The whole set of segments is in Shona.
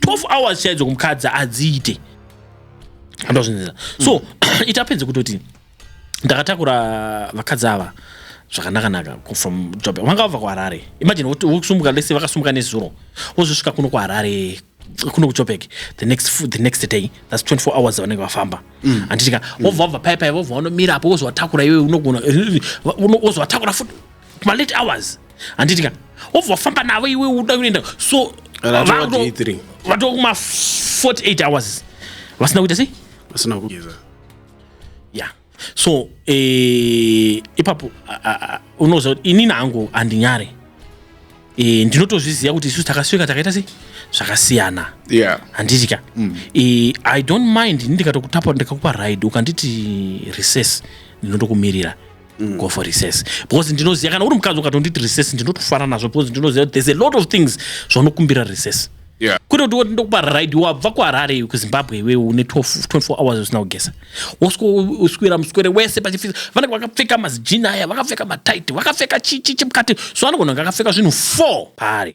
12 hours chaidzo kumukadzi adziite andozvinzira so mm. it happens kutoti ndakatakura vakadzi ava zvakanakanaka from job vanga vabva kuharare imagine vokusumuka lese vakasumuka nezuro vozosvika kuno kuharare kuno kuchopek the next, the next day thats 24 hours vanenge vafamba mm. anditika mm. vobva vabva paipai vobva vanomira apo wozovatakura iwe unogona wozovatakura futi malate hours handiti ka obva wafamba navo iwe uda kuenda so vatova kuma 48 hours vasina kuita sei vasina kugeza ya so eh, ipapo unoziva kuti inini hangu handinyare eh, ndinotozviziva kuti isusu takasvika takaita sei zvakasiyana handiti ka mm. eh, i don't mind ini ndikatokutapa ndikakupa ride ukanditi recess ndinotokumirira Mm. go for recess because ndinoziva kana uri mukadzi ukatonditi recess ndinotofara nazvo because ndinoziva kuti there's a lot of things zvaunokumbira recess Yeah. kwete kuti woti ndokupa ride wabva kuharare iwe kuzimbabwe iwe une 12 24 hours usina kugeza woswera muswere wese pachifisa vanenge vakapfeka mazijini aya vakapfeka mataiti vakapfeka chichi chimukati so anogona kunge akapfeka zvinhu 4 paari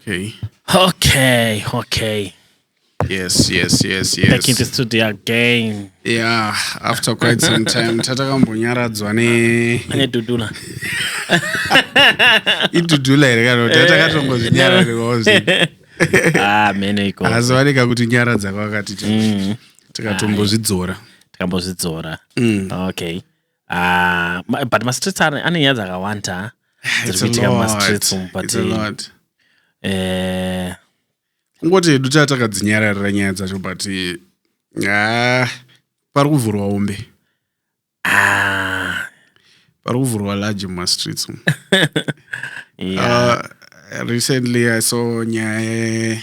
Okay. Okay, okay. Yes, yes, yes, yes. Back in the studio again. Yeah, after quite some time tatakambonyaradzwa ne ne dudula. Idudula here kana kuti takatongozvinyara nekozi. Ah, mene iko. Azowanika kuti nyara dzako akati mm. tikatombozvidzora. Tikambozvidzora. Mm. Okay. Ah, ma- but mastreets ane ane nyaya dzakawanda dziri It's a kuitika lot. mumastreets umu but It's a lot. eh, kungoti hedu taa takadzinyararira nyaya dzacho but ah, pari kuvhurwa umbe ah, pari kuvhurwa large mumastreets umu yeah. Uh, recently I saw nyaya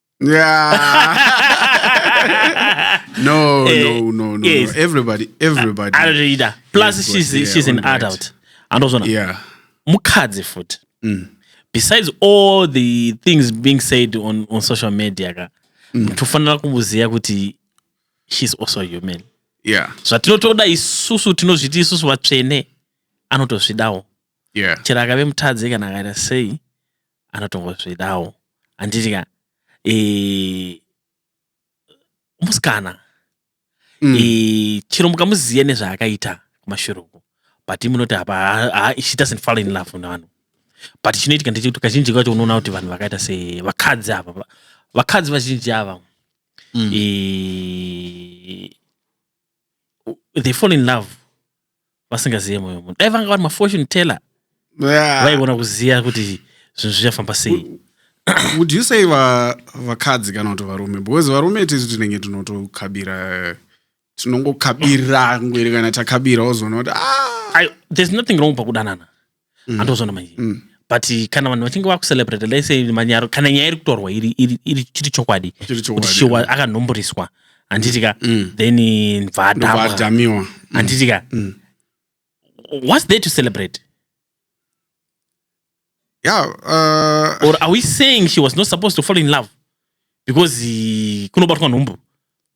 Yeah. no, Eh, no, no, no, yes. no. Everybody, everybody. anotoita plus Yes, she's, yeah, she's an all right. adult andozvona Yeah. mukadzi futi Mm. besides all the things being said on, on social media ka Mm. tofanira kumboziva kuti she's also human Yeah. zvatinotoda isusu tinozviti isusu vatsvene anotozvidawo Yeah. chero akave mutadzi kana akaita sei anotongozvidawo handiti ka e, musikana mm. e, chero mukamuziva nezvaakaita kumashure uko but munoti apa she doesn't fall in love nevanhu but chinoitika ndechekuti kazhinji kacho unoona kuti vanhu vakaita sevakadzi ava vakadzi vazhinji ava mm. e, they fall in love vasingazive mwoyo wemunhu dai vanga vari mafortune teller Yeah. vaigona kuziva kuti zvinhu zvichafamba sei would you say va- vakadzi kana kuti varume because varume tisu tinenge tinotokabira tinongokabira ngwere kana takabira wozoona kuti ah, I, there's nothing wrong pakudanana mm. andozona manje mm. but kana vanhu vachinge vakucelebrate lese manyaro kana nyaya iri kutorwa iri chiri chokwadi kuti shiwa akanhomboriswa handitika mm. mm. then bvadamiwa mm. handitika mm. what's there to celebrate yeah, uh... or are we saying she was not supposed to fall in love because kunobatwa nhumbu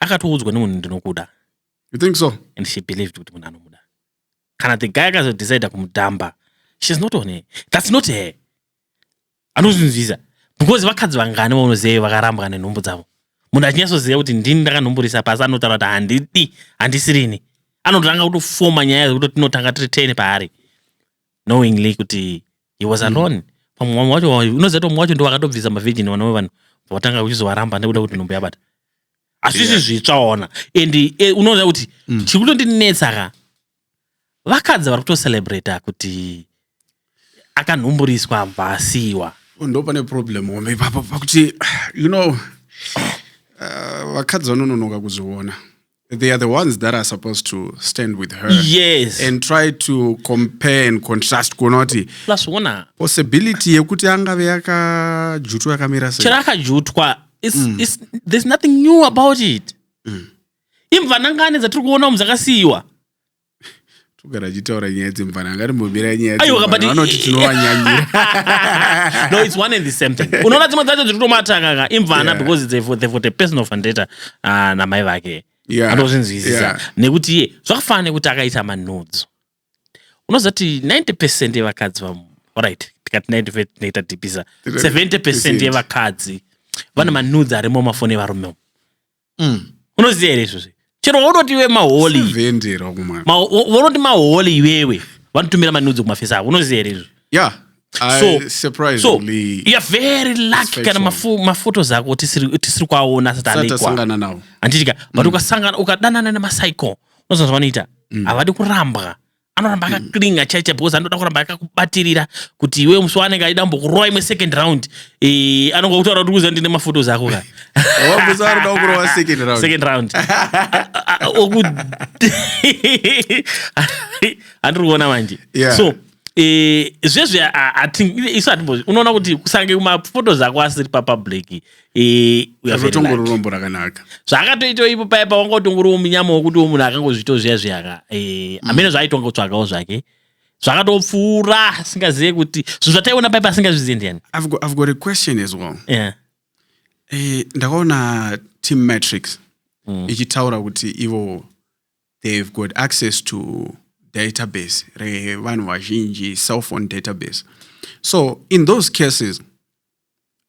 akatoudzwa nemunhu ndinokuda you think so and she believed kuti munhu anomuda kana the guy akazodecide kumudhamba shes not on her thats not her anozvinzwisa because vakadzi vangani vaunoziva vakarambwa nenhumbu dzavo munhu achinyatsoziva kuti ndini ndakanhumburisa pasi anotaura kuti handidi handisirini anotanga kutofoma nyaya dzekuti tinotanga tiri ten paari knowingly kuti he was mm. alone pamwe vamwe wacho unoziva tomwe wacho ndovakatobvisa mavhijini vana vevanhu vatanga kuchizovaramba nekuda kuti nhumbu yabata hazvisi zvitsva ona and e, unoona kuti mm. chiri kutondinetsa ka vakadzi vari kutocelebrata kuti akanhumburiswa abva asiyiwa oh, ndo pane problem home ipapo pakuti you know uh, vakadzi vanononoka kuzviona they are the ones that are supposed to stand with her yes and try to compare and contrast kuona kuti plus ona possibility yekuti angave yakajutwa yakamira sei chero akajutwa mm. there's nothing new about it mm. imvanangani dzatiri kuona umu dzakasiyiwa togara tichitaura nyaya dzemvana angatimbomira nyaya vanoti tinovanyanyira no it's one and the same thing unoona dzimwe dzacho dziri kutomatanganga imvana because they've got a personal fandeta ah, namai vake anozvinzwisisa nekuti iye zvakafanana nekuti akaita manudzo unozati 90 percent yevakadzi vamu orit tikati 90 percent tinoita dipisa 70 percent yevakadzi vane manudzi arimo mafoni evarume Mm. unoziva here izvozvi chero waunoti iwe maholi Sevendero kumwe. ma- wa- waunoti maholi iwewe vanotumira manudzo kumafesi avo unoziva here izvozvi Yeah. I so so surprisingly you're very lucky kana factual. mafu- maphotos ako tisiri tisiri kuaona asati sati alekwa asangana nawo. handitika but ukasangana ukadanana nemacycle unozonzwa vanoita havadi kurambwa anoramba akaclinga mm. chaicha because anoda kuramba akakubatirira kuti iwe musi waanenge aida mbokurowa imwe second round e, anonga kutaura kuti kuziva ndine mafotos ako ka second round andiri kuona manje so e, zvezve isu unoona kuti kusange mafotos ako asiri papublic uyazotongorirombo rakanaka zvaakatoitawo ipo paye pawangotongoriwo munyama wokuti wo munhu akangozviitawo zviya zviyaka eh, mm. amene zvaaitwa ngotsvakawo zvake zvakatopfuura asingazive kuti zvinhu zvataiona paye pasingazvizive ndiyani i've got a question as well yeah. eh, ndakaona team matrix mm. ichitaura kuti ivo they've got access to database revanhu vazhinji cellphone database so in those cases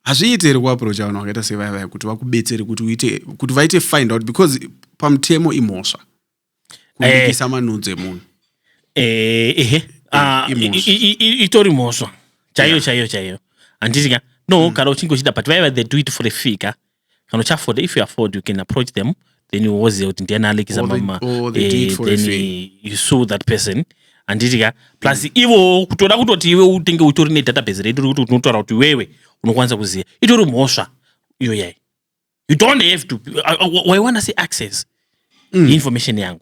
hazviite here kuaprocha vanhu vakaita sevaya vaya kuti vakubetsere kuti uite kuti vaite find out because pamutemo imhosva kubikisa eh. manunzi emunhu eh, ehe eh, ah, itori mhosva chaiyo chaiyo chaiyo handiti ka no mm. kana uchinge uchida but vaiva they do it for a fee ka kana uchiafoda if you afford you can approach them then woziva kuti ndiani alekisa mama eh, then you sue that person handitya plus mm. ivo kutoda kutoti iwe utenge utori nedatabase redu rekuti unotaura kuti iwewe unokwanisa kuziva itori mhosva iyoyai you don't have to uh, uh, waiwana se access mm. information yangu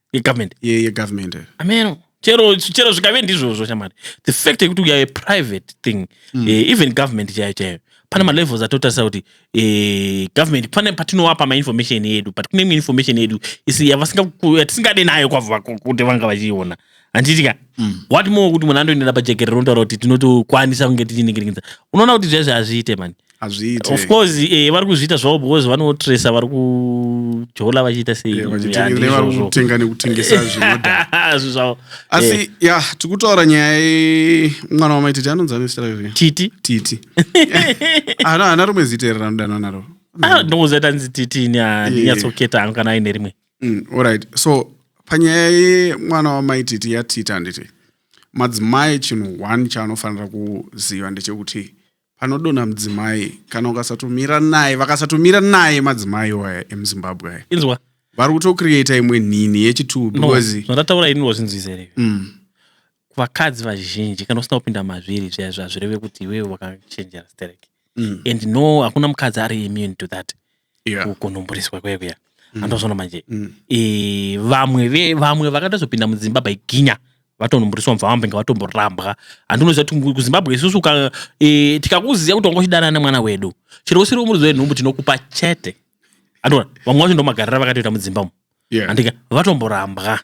yegovernment yegovernment ameno chero chero zvikave ndizvozvo shamari the fact yekuti we are a private thing mm. uh, even government chaiyo chaiyo pane malevels atotarisa kuti uh, government pane patinowapa mainformation yedu but kune imwe information yedu isi yatisingade nayo kwavo kuti vanga vachiiona handitika mm. what more kuti munhu andoendera pajekerero ndotaura kuti tinotokwanisa kunge tichiningirikidza unoona kuti zvezvi hazviite mani hazviite of course eh, vari kuzviita zvavo because vanotresa vari kujola vachiita sei Yeah, vachiti Yeah, ndizvo vari zvo. kutenga nekutengesa zvinodhaka Zvinhu zvavo Eh, asi ya tikutaura nyaya ye- mwana wamaititi anonzi anesita rei titi titi ana ana rimwe zita here ranodanwa naro Ah, ndongoziva kuti anzi titi ini handinyatsoketa hangu kana aine rimwe Mm, alright so panyaya yemwana wamaititi yatiti handiti madzimai chinhu one chaanofanira kuziva ndechekuti panodonha mudzimai kana ukasatomira naye vakasatomira naye madzimai waya emuzimbabwe aya inzwa vari kutocreata imwe nhinhi yechitubu because zvandataura ini wazvinzwisa here mm. vakadzi vazhinji kana usina kupinda mazviri zvaizvo hazvireve kuti iwewe wakachenjera sterek mm. and no hakuna mukadzi ari immune to that yeah. kunomboreswa kuya kuya mm. andozoona manje mm. e, vamwe ve vamwe vakatozopinda mudzimba by ginya vatonomboreswa mva vambenge vatomborambwa handinoziva kuti kuzimbabwe isusu ka e, tikakuziva kuti wanga uchidana nemwana wedu chero usiri umuridzo wenhumbu tinokupa chete andoona vamwe vacho ndomagarira vakatoita mudzimba umu yeah. andika vatomborambwa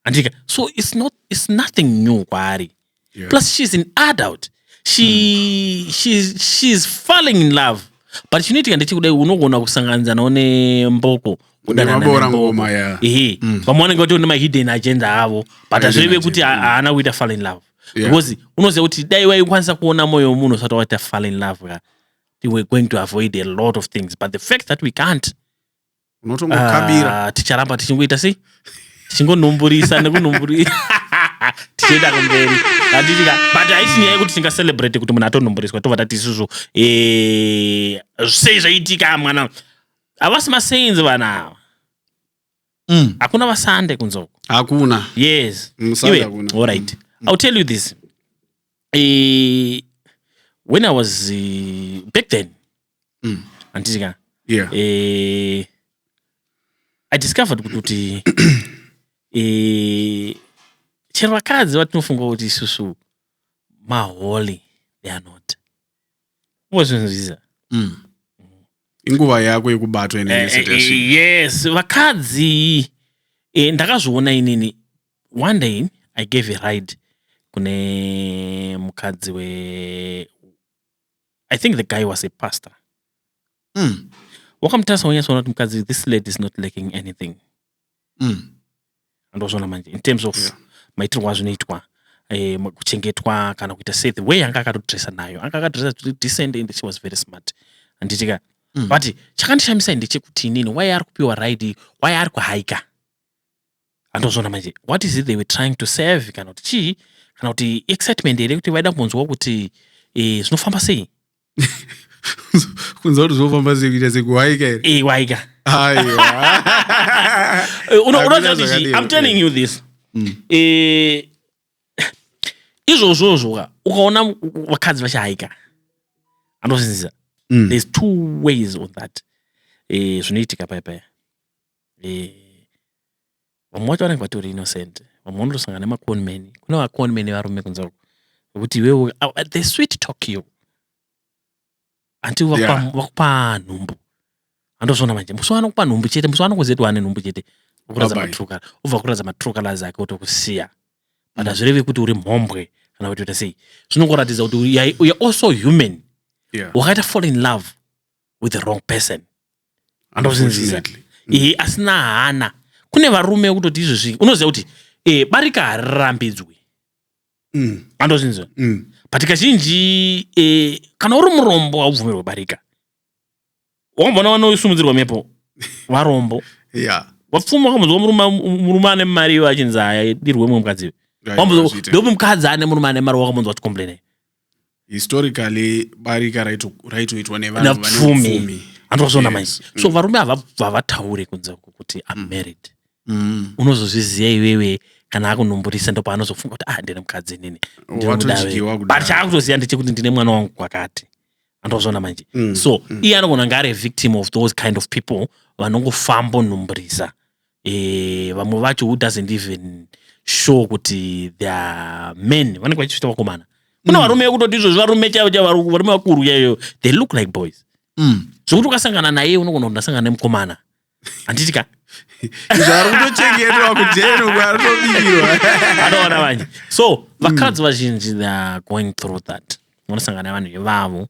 handika so it's not it's nothing new kwaari yeah. plus she's an adult she mm. she's, she's falling in love but chinoitika ndechekudai unogona kusanganidzanawo nemboko kudananaora ngoma ya ehe mm. vamwe vanenge vatori nemahidden agenda avo but hazvireve kuti mm. haana kuita fall in love yeah. because unoziva kuti dai waikwanisa kuona mwoyo wemunhu usati waita fall in love ka we were going to avoid a lot of things but the fact that we can't unotongokabira Ah, ticharamba tichingoita sei tichingonumburisa nekunumburisa tichienda kumberi hatitika but haisi nyaya yekuti tingacelebrate kuti munhu atonumburiswa tobva tati isusu eh, sei zvaitika mwana havasi masainzi vana ava Mm. hakuna vasande kunzoko hakuna yes Musande Iwe, hakuna. all right i'll tell you this Eh, when i was eh, back then mm. handiti ka yeah. eh, i discovered kuti kuti eh, chero vakadzi vatinofunga kuti isusu maholy they are not ozvinzwiza mm. inguva yako yekubatwa eh, eh, eh, yes vakadzi eh, ndakazviona inini one day i gave a ride kune mukadzi we i think the guy was a pastor mm. wakamutarisa wanyatsoona kuti mukadzi this lady is not lacking anything mm. andozviona manje in terms of yeah. maitirwo azvinoitwa eh, kuchengetwa kana kuita se the way anga akatodressa nayo anga akadressa decent and she was very smart anditika mm. but chakandishamisai ndechekuti inini why ari kupiwa ride why ari kuhaika handozviona manje what is it they were trying to serve kana kuti chii kana kuti excitement here kuti vaida kunzwa kuti eh, zvinofamba sei kunzwa kuti zvinofamba sei kuita sekuwaika here eh, waika eh, unoziva kuti chii i'm telling you this mm. izvozvozvoka ukaona vakadzi vachihaika anozvinzisa mm. there's two ways on that zvinoitika paya paya vamwe wacho vanenge vatori innocent vamwe vanotosangana nemaconman kune vaconman varume kunze uko vekuti iwewe the sweet talk you until vakupa nhumbu andozviona manje musi wanokupa nhumbu chete musi wanokuziva kuti wane nhumbu chete ukuratidza matruka obva kuratidza matruka lazi ake otokusiya but hazvirevi mm. kuti uri mhombwe kana kuti uta sei zvinongoratidza kuti you're also human wakaita fall in love with the wrong person andozinzisa e, asina hana kune varume wekutoti izvezvi unoziva kuti e, barika harirambidzwi mm. andozinzisa mm. but kazhinji e, kana uri murombo haubvumirwe barika wambona vanosumudzirwa mhepo varombo yeah. vapfuma wakambonzwa murume ane mari ivo achinzi haya dirwe mumwe mukadzi iwe ndope mukadzi ane murume ane mari wakambonzwa tikomplainei historically barika raito- raitoitwa nevanhu vane napfumi upfumi andozoona Yes. manje so varume hava- havataure kunze uku kuti am married Mm. unozozviziva iwewe kana akunomborisa ndo paanozofunga kuti ah ndine mukadzi inini ndinomuda Watodyiwa iwewe." kudaro. but chaakutoziva ndechekuti ndine mwana wangu kwakati andozoona manje Mm. so iye anogona kunge ari a victim of those kind of people vanongofamba onhumburisa e, vamwe vacho who doesn't even show kuti their men vanenge vachizvita vakomana kune mm. varume vekutoti izvozvi varume chaivo chaivo varume vakuru chaivo they look like boys mm. zvokuti ukasangana naye unogona kuti ndasangana nemukomana handiti ka zvaari kutochengetwa kujeno kwaatobirwa anoona vanje so vakadzi mm. vazhinji theyare going through that vanosangana vanhu ivavo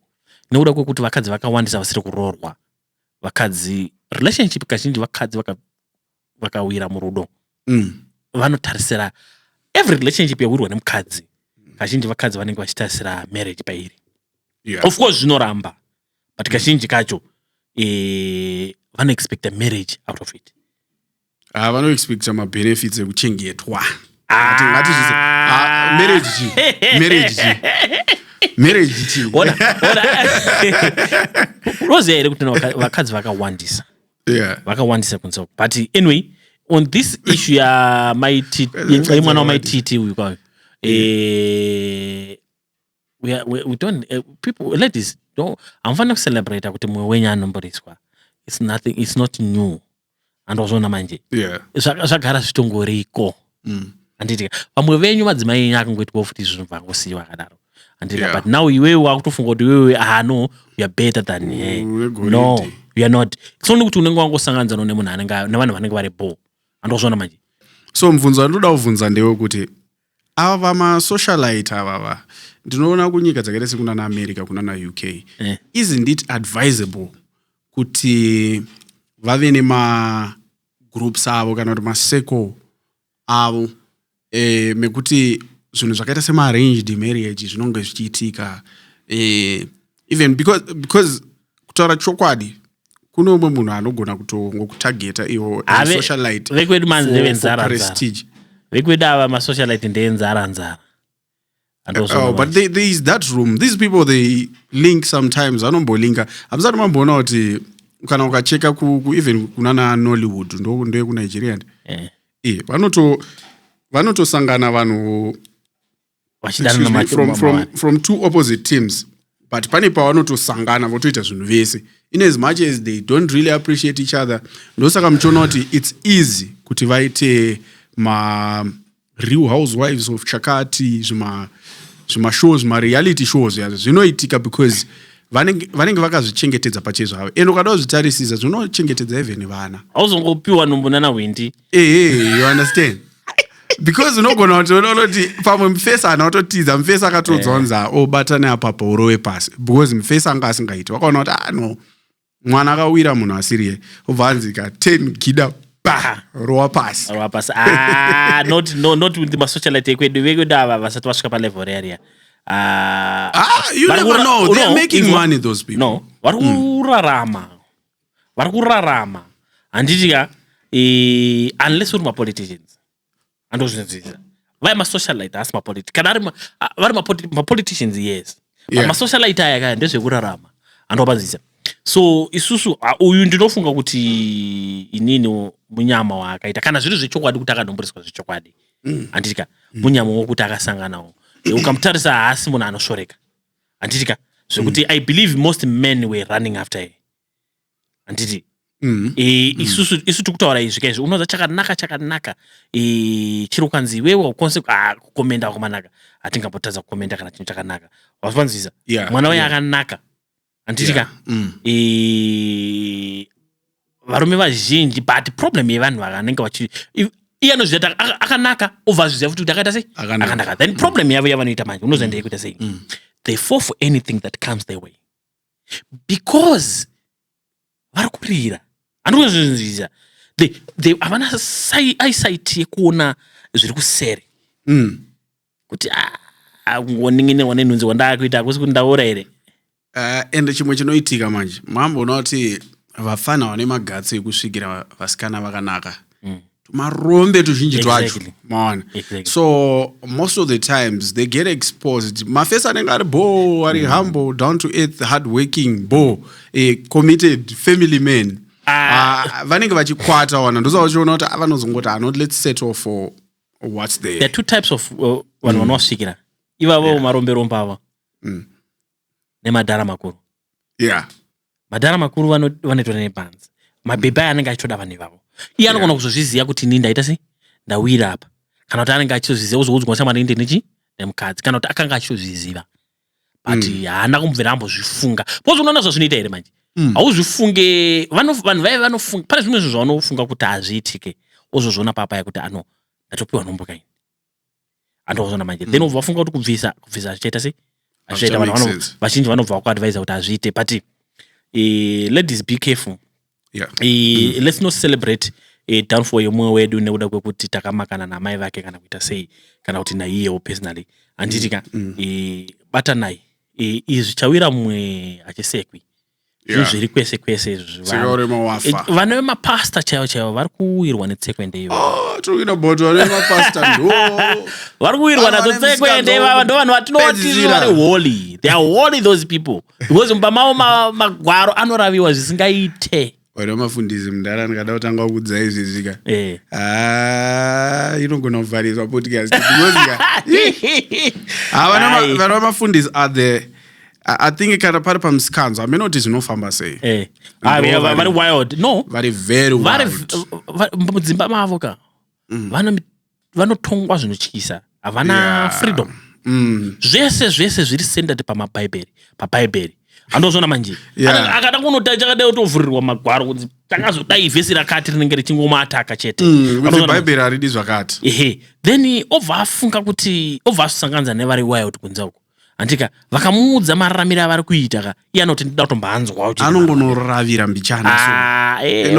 nekuda kwekuti vakadzi vakawandisa vasiri kuroorwa vakadzi relationship kazhinji vakadzi vaka vakawira murudo mm. vanotarisira every relationship yawirwa nemukadzi kazhinji vakadzi vanenge vachitarisira marriage pairi yeah. of course zvinoramba but kazhinji kacho e, vanoexpecta marriage out of it Ah, vanoexpecta mabenefits ekuchengetwa Ngati- ngatizvize- Ah, marriage chi marriage chi marriage chi Ona- ona- unoziva here kuti na vaka- vakadzi vakawandisa yeah vakawandisa kunze uku. but anyway on this issue yamaiti Vakadzi yemwana wamaititi uyu kwayo eh, we, are- we, we don't eh, people ladies don't hamufanira kucelebrata kuti mumwe wenyu anomboriswa it's nothing it's not new andozviona manje yeah. zvagara zvitongoriko mm. anditi vamwe venyu madzimai enyu akangoitwawo futi izvi zvinhu vangosiyiwa akadaro anditi yeah. but now iwewe wakutofunga kuti iwewe ah no youare better than he no youare not soni kuti unenge wangosanganidzano nemunhu anenge nevanhu vanenge vari bo andozviona manje so mubvunzo andoda kubvunza ndewe kuti ava vamasocialite avava ndinoona kunyika dzakaita sekunana america kunana uk eh. isn't it advisable kuti vave nemagroups avo kana kuti masecl avo e, mekuti zvinhu zvakaita semaarranged marriage zvinonge zvichiitika e, even because, because kutaura chokwadi kune umwe munhu anogona kutongokutageta iwo socialite vekwedu manzi ndevenzara vekwedu ava masocialite ndevenzara nzara Oh, but there, there is that room these people they link sometimes vanombolinka hamusati mamboona kuti kana ukacheka kueven kunana nollywood ndeyekunigeria ndi eh. eh, vanotosangana vanhu from two opposite teams but pane pavanotosangana votoita zvinhu vese in as much as they don't really appreciate each other ndosaka muchiona kuti its easy kuti vaite ma real housewives of chakati zvima zvimashow zvimareality shows yazvo zvinoitika because vanenge vanenge vakazvichengetedza pachezvavo and ukada kuzvitarisisa zvinochengetedza even vana hauzongopiwa nhumbu nana hwindi ehe you understand because unogona kuti unoona kuti pamwe mufesi ana ototiza mufesi akatodzwa kunzi obata neapapa urove pasi because mufesi anga asingaiti wakaona kuti ah no mwana akawira munhu asiriye obva anzi ka ten gida pa rowa pasi rowa pasi ah, not, no, not with masocialite ekwedu vekwedu ava vasati vasvika palevel reariya ah, ah, no vari hmm. kurarama vari kurarama handiti ka unless uri mapoliticians andozvinzwisa vaya masocialite haasi mapoliti kana ari vari mapoliticians yes yeah. masocialite aya kaya ndezvekurarama andopanzisa so isusu uyu ndinofunga kuti inini munyama waakaita kana zviri zvechokwadi kuti akanomboriswa zvechokwadi mm. anditika mm. munyama wokuti akasanganawo ukamutarisa haasi munhu anoshoreka anditika zvekuti mm. i believe most men were running after him handiti mm. e, mm. isusu mm. isu tikutaura izvi kaizvi unoza chakanaka chakanaka e, chiri kukanzi iwewe ukonse ah, kukomenda kwakanaka hatingambotadza kukomenda kana chinhu chakanaka wazvanzwisa yeah, mwana waye yeah. akanaka handiti ka yeah. mm. e, varume vazhinji but problem yevanhu vakanenge vachi iye anozviita akanaka obva azviziva futi kuti akaita sei akanaka then problem yavo yavanoita manje unozoenda yekuita sei mm. they fall for anything that comes their way because vari kurira handikuzvinzvisa havana eyesight yekuona zviri kuseri mm. kuti ah, ngoningine one nhunzi wandakuita hakusi kuti ndaora here uh, ende chimwe chinoitika manje mamboona kuti vafana vane magatsi ekusvikira vasikana vakanaka mm. tumarombe tuzhinji twacho exactly. maona exactly. so most of the times they get exposed mafesi anenge ari bo ari mm. humble down to earth hard working bo a committed family man ah. Ah, vanenge uh, vachikwata wana ndosa vachiona kuti ah, vanozongoti anot let's settle for what's there the two types of uh, vanhu mm. vanosvikira ivavo yeah. marombe romba ava mm. nemadhara makuru yeah madhara makuru vanoitwa nepanzi mabhebhi aya anenge achitoda vanhu ivavo iye anogona kuzozviziva kuti ini ndaita sei ndawira apa kana kuti anenge achitozviziva ozoudzwa shamwari inde nechi nemukadzi kana kuti akanga achitozviziva but mm. haana mm. kumbvera ambozvifunga bcause unoona zvazvinoita here manje mm. hauzvifunge vanhu vaye vanofunga pane zvimwe zvinhu zvavanofunga kuti hazviitike ozozviona papaya kuti ano ndatopiwa nhomboka ini and wazona manje then ubva wafunga kuti kubvisa kubvisa zvichaita sei zvichaita Hazvicha vanhu make vano- sense. vazhinji vanobva vakuadvisa kuti hazviite but eh, ladies be careful Yeah. Eh, let's not celebrate eh, downfall yemumwe wedu nekuda kwekuti takamakana namai vake kana kuita sei kana kuti naiyewo personally handiti ka eh, batanai Eh, izvi chawira mumwe hachisekwi Yeah. zvezviri kwese kwese izvi Tsika vanhu. urema wafa. Eh, vana vemapasta chaivo chaivo vari kuwirwa netsekwende ivo Oh, talking about vana vemapasta ndo vari kuwirwa Ava nadzo vane tsekwende misikanzwa ivava ndo vanhu vatinoti wokupedzisira. vari holy they are holy those people because mumba mavo ma- magwaro anoraviwa zvisingaite wari wamafundisi mudhara ndikada kutanga kukudza izvi zvika eh. ah, inogona kuvharirwa podcast vana vamafundisi are the i think kana pari pamusikanzo hameno kuti zvinofamba sei eh. ah, vari wild no vari very mudzimba mavo ka mm. vane vanotongwa zvinotyisa havana yeah. freedom mm. zvese zvese zviri centered pamabhaibheri pabhaibheri andozvona manje yeah. akada kunotai chakadai otovhurirwa magwaro kunzi takazodai vhesi rakati rinenge richingomaataka chete mm, bhaibheri haridi zvakati ehe then obva afunga kuti obva asanganza nevari wild kunze uko handika vakamuudza mararamiro avari kuita ka iye anoti ndida kutombanzwawo anongonoravira mbichana ah, eh,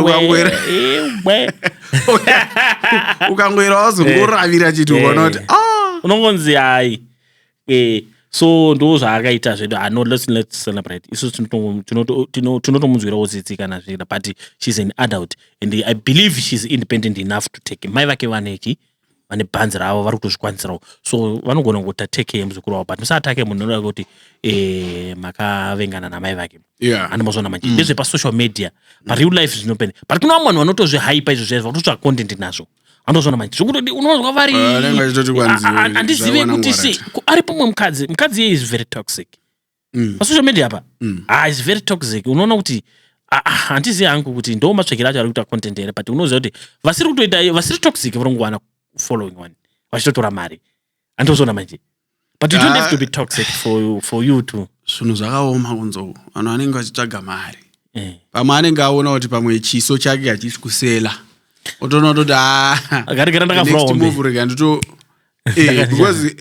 ukangoera wazongoravira eh. chiti ukaona kuti eh. ah! unongonzi hai so ndo zvaakaita zvedu ah, no, let's, let's celebrate isu tinotomunzwirawo tsitsi kana zviita but she's an adult and i believe she's independent enough to take mai vake vanechi vane bhanzi ravo vari kutozvikwanisirawo so vanogona kuti ateke muzukuru wavo but musaatake munhu anoda kuti eh, makavengana namai vake yeah. andimazoona manje mm. ndezvepasocial media pareal life zvinopene but kuna vamwe vanhu vanotozvihaipa izvo zvaizvo vatotsva content nazvo anozvona manje zvokutoti unonzwa vari ah, andizive kuti sei ari pamwe mukadzi mukadzi iye is very toxic mm. pasocial media apa mm. ah, is very toxic unoona kuti ah, ah, handizivi hangu kuti ndo matsvakiro acho ari kuita content here but unoziva kuti vasiri kutoita vasiri toxic vari kungowana following one vachitotora mari andiozona manje but you don't have to be toxic for you, for you too zvinhu zvakaoma kunzou vanhu vanenge vachitsvaga mari eh. pamwe anenge aona kuti pamwe chiso chake hachisi kusela otoona toti ah, akaregera ndakavuraombe rega ndito Eh, because eh,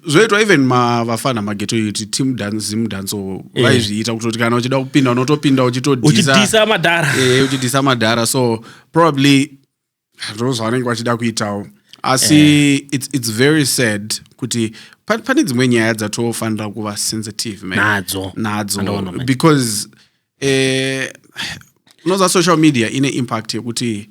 zvoitwa even ma- vafana mageto yuti team dance zim dance or Eh. vaizviita kutoti kana uchida kupinda unotopinda uchitodhisa uchidhisa madhara Eh, uchidhisa madhara so probably ndoo zvavanenge vachida kuitawo asi Eh. it's, it's very sad kuti pa- pane dzimwe nyaya dzatofanira kuva sensitive man. Nadzo. nadzo Andoona, man. because eh, unoza social media ine impact yekuti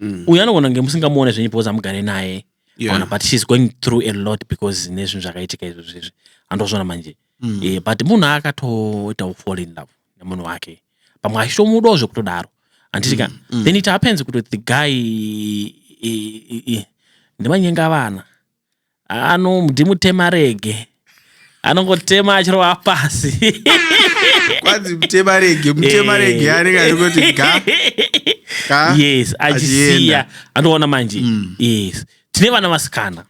Mm. uyu anogona kunge musingamuone zvenyu because amugare naye Yeah. Ona, but she's going through a lot because nezvinhu zvakaitika izvo zvezvi andozvona manje Mm. Eh, but munhu akatoitawo fall in love nemunhu wake pamwe achitomudawo zvekutodaro handiti ka Mm. then it happens kuti the guy eh, eh, eh, ndimanyenga vana Ano mdi mutema rege anongotema achirova pasi kwanzi mutema rege mutema rege eh. anenge achingoti ga yes achisiya anoona manje mm. yes tine vana vasikana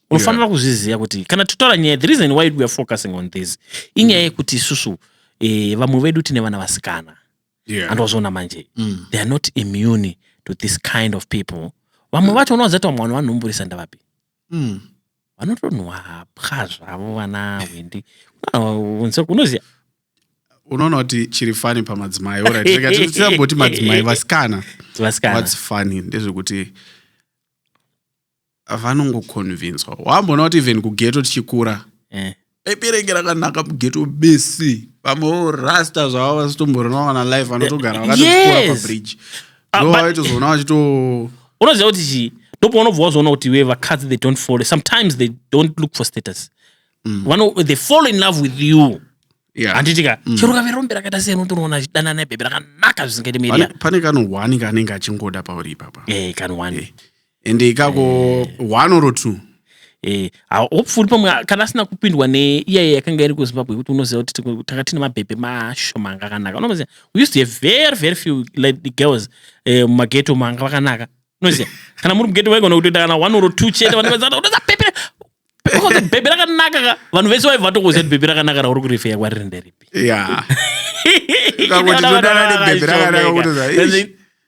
unofanira yeah. kuzviziva kuti kana totaura nyaya the reason why we are focusing on this inyaya mm. yekuti isusu eh, vamwe vedu tine vana vasikana yeah. andovazoona manje mm. they are not immune to this kind of people vamwe mm. vacho unovaziva kuti vamwe vanhu vanomburisa ndavapi Umm vanotonhuwa hapwa zvavo vana Hwindi. Unonzwa unoziva unoona kuti chiri fani pamadzimai orit rega tisamboti madzimai vasikana vasikana what's funny ndezvekuti vanongoconvinswa wamboona kuti even kugeto tichikura eh. Pepe renge rakanaka mugeto bese vamwe vorasta zvavo vasitomborona vana life vanotogara vakatokora Yes. pabridge Ah, ndo but- vaitozoona vachito unoziva kuti chii ndopaunobva wazoona kuti we vakadzi they don't follow sometimes they don't look for status Vano, they fall in love with you Yeah. handiti ka chero kave rombe rakaita sei unotonoona achidana nebhebhi rakanaka zvisingaite Pane- media pane kano one kanenge achingoda pauri ipapa eh kanwani and ikako eh. one or two eh, hopefully pamwe kana asina kupindwa neiyaye yakanga iri kuzimbabwe yekuti unoziva kuti tanga tine mabhebhe mashoma anga akanaka unoziva we used to have very very few like the girls eh, mumageto manga vakanaka unoziva kana muri mugeto vaigona kutoita kana one or two chete vanhu vaziva unoziva pepe Ukonzi bhebhi rakanaka ka vanhu vese vaiva vatokuziva kuti bhebhi rakanaka rauri kurifeya kwariri nderipi Yeah. Ukango ndinodana nebhebhi rakanaka kutoziva, "Eish."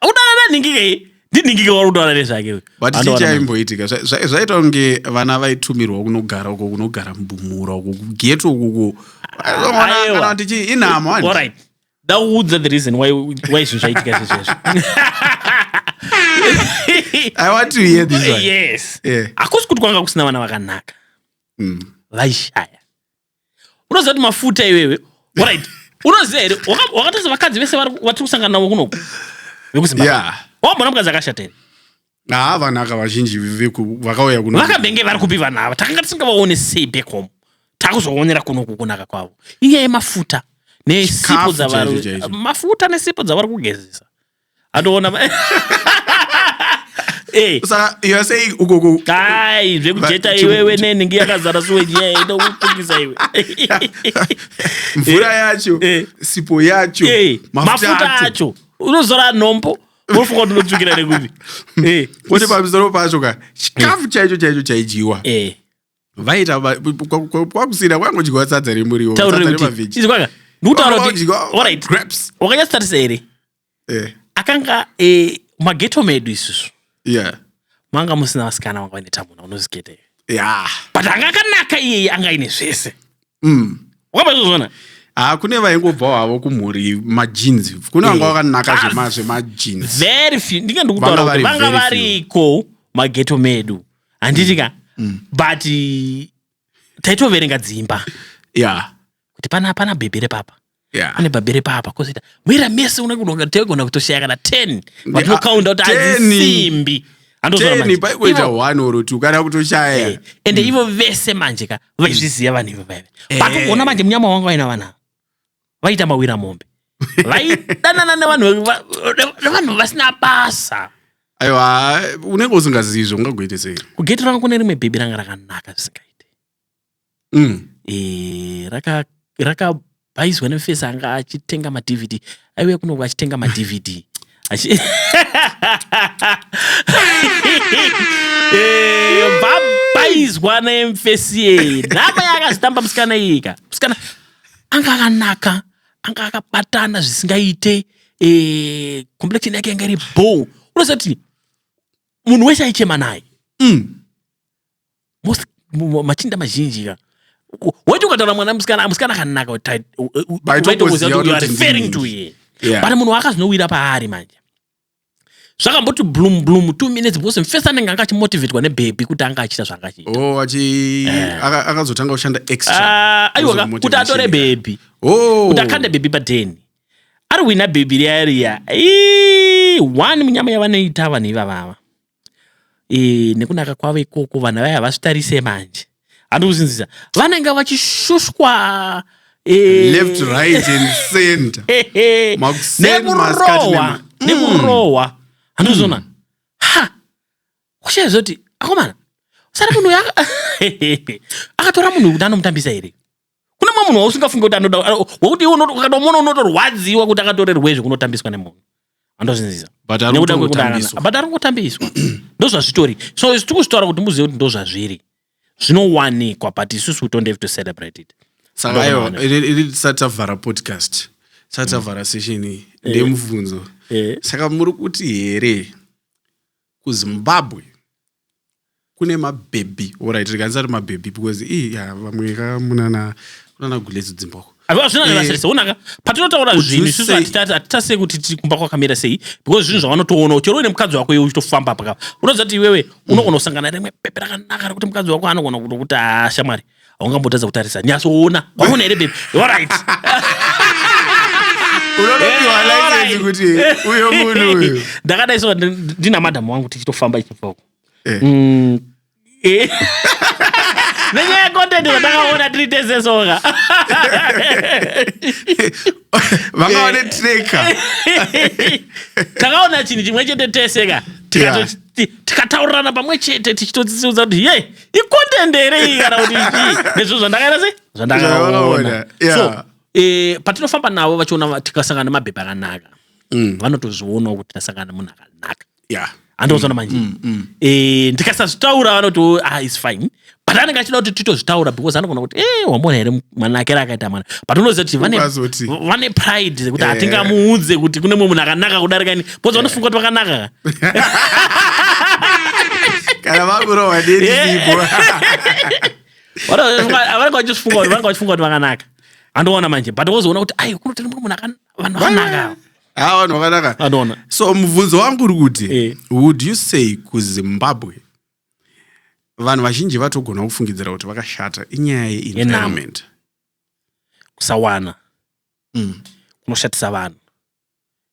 udana nanhingike iyi ndinhingike wari kutaura nezvake uyu. but Anowana chii chaimboitika Zva- zva- zvaita kunge vana vaitumirwa kunogara uko kunogara mubumura uko kugeto ukuko Aiwa. kana kuti chii inhamo hanti? Alright. dauudza the reason why why zvinhu zvaitika zvezvezvo i want to hear this one yes yeah. hakusi kuti kwanga kusina vana vakanaka mm. vaishaya unoziva kuti mafuta iwewe orit unoziva here wakatoza vakadzi vese vatiri kusangana navo kunoku vekuzimbabwe yeah. wambona mukadzi akashata here haa vanhu aka vazhinji veku- vakauya kuno vakambenge vari kupi vanhu ava takanga tisingavaone sei back home takuzoonera kuno kukunaka kwavo inyaya yemafuta nesipo Chikafu dzavari chaicho chaicho. mafuta nesipo dzavari kugezesa atoona ma- Eh, saka you are saying ukoko kai zvekujeta Ba- iwewe nenhingi yakazara suwe nyaya inokukungisa iwe mvura yacho Eh. sipo yacho Eh, mafuta acho unozora nhombo unofunga kuti unotsvukira nekupi Eh, kwete pamusoro pacho ka chikafu chaicho chaicho chaidyiwa eh. vaita va- kwa- kwa- kwa- kwakusina kwangodyiwa sadza remuriwo sadza taurire kuti remaveji izi kwanga ndikutaura kuti Kwangodyiwa alright grapes wakanyatsotarisa here Eh, akanga eh, mageto medu isusu yeah manga musina vasikana vanga vane tamuna unoziketa iwe yeah but anga akanaka iyeye anga aine zvese mm. wamazvozvona ha kune vaingobva wavo kumhuri majeans kune vanga vakanaka zvemajeans very few ndinge ndikutaura kuti vanga variko mageto medu handiti ka mm. mm. but taitoverenga dzimba ya kuti pana pana bhebhi repapa Yeah. pane babere papa kozoita mwera mese una kudoka tegona kutoshaya kana 10 but Yeah, unokaunda kuti 10. adzisimbi teni paikuita one or two kana kutoshaya Eh, ende ivo vese manje ka vaizviziva vanhu ivo vaive Eh. but ugoona manje munyama wanga vaina vanhu ava vaita mawira mombe vaidanana nevanhu va- nevanhu vasina basa aiwa unenge usingazivi zve ungagoite sei kugeti rangu kune rimwe bhebhi ranga rakanaka zvisingaite mm. e, raka rakabhaizwa nemufesi anga achitenga madvd aiuya kunoku achitenga madvd vabhaizwa eh, nemufesi yeye nhama yakazitamba musikana iyika musikana anga akanaka anga akabatana zvisingaite eh, complection yake yanga iri bo unozati munhu wese aichema naye mm. Most, machinda mazhinji ka weti ukataura mwana musikana musikana akanaka referring to ye yeah. but munhu waakazvinowira paari manje zvakamboti bloom bloom two minutes because first anenge anga achimotivetwa nebhebhi kuti anga achiita zvaanga achiitaakazotanga oh, eh. kushanda extra aiwa ah, kuti atore bhebhi oh. kuti akande bhebhi padheni ari wina bhebhi riya riya one munyama yavanoita vanhu ivavava e, nekunaka kwavo ikoko vanhu vaya havazvitarise manje handi kuzinzisa vanenge vachishushwa e, left right and center nekurohwa nekurohwa mm. handizvona mm. ha kushaya zvoti akomana sara munhu akatora munhu kuti anomutambisa here kune mumwe munhu wausingafunge kuti anoda wekuti iwe ukatomuona unotorwadziwa kuti akatorerwei zvekunotambiswa nemunhu andozvinzisa but ari kutambiswa ndozvazvitori so isu tiri kuzvitaura kuti muzive kuti ndozvazviri zvinowanikwa but isusu don't have to celebrate it saka aiwa tisati tavhara podcast tisati tavhara mm. session iyi eh. ndemubvunzo eh. saka muri kuti here kuzimbabwe kune mabhebhi orit rikanisati mabhebhi because ii ya vamwe ka munana kunana guledzo dzimba uko hazvina Eh. nevasirisa onaka patinotaura Would zvinhu you isusu say- hatita- hatitasei kuti tiri kumba kwakamira sei because zvinhu zvavanotoonawo chero uine mukadzi wako iwe uchitofamba pakapa unoziva kuti iwewe unogona kusangana rimwe bhebhi rakanaka rekuti mukadzi wako anogona kutokuti haa shamwari haungambotadza kutarisa nyatsoona waona here bebi orit ndakadai so ndina madhamu wangu tichitofamba ichibvako eh. mm, eh. nenyaya yecontent zvatakaona tiri tese soka vangaone eh. treka takaona chinhu chimwe chete teseka tikataurirana pamwe chete tichitodziudza kuti ye icontent here iyi kana kuti chii nezvinhu zvandakaita sei Zvandakaona, zvandakaona yeah. so eh, patinofamba navo vachiona va- tikasangana nemabhebha akanaka Mm. vanotozvionawo kuti tasangana nemunhu akanaka Yeah. andiozona manje Eh, ndikasazvitaura vanoti "Oh, ah, its fine but anenge achida kuti titozvitaura because anogona kuti eh wamona here mwana akera akaita mwana but unoziva kuti vane, Ukazoti- vane pride kuti Eh. hatingamuudze kuti kune mumwe munhu akanaka kudarika ini bcause vanofunga kuti vakanaka kana vakurohwa nerizipo vanenge vachifunga kuti vanenge vachifunga kuti vakanaka andoona manje but wozoona kuti ai kunotenda mumwe munhu vanhu vakanaka ha vanhu vakanaka andoona so mubvunzo wangu uri kuti eh. would you say kuzimbabwe vanhu vazhinji vatogona kufungidzira kuti vakashata inyaya yeenvironment kusawana mm. kunoshatisa vanhu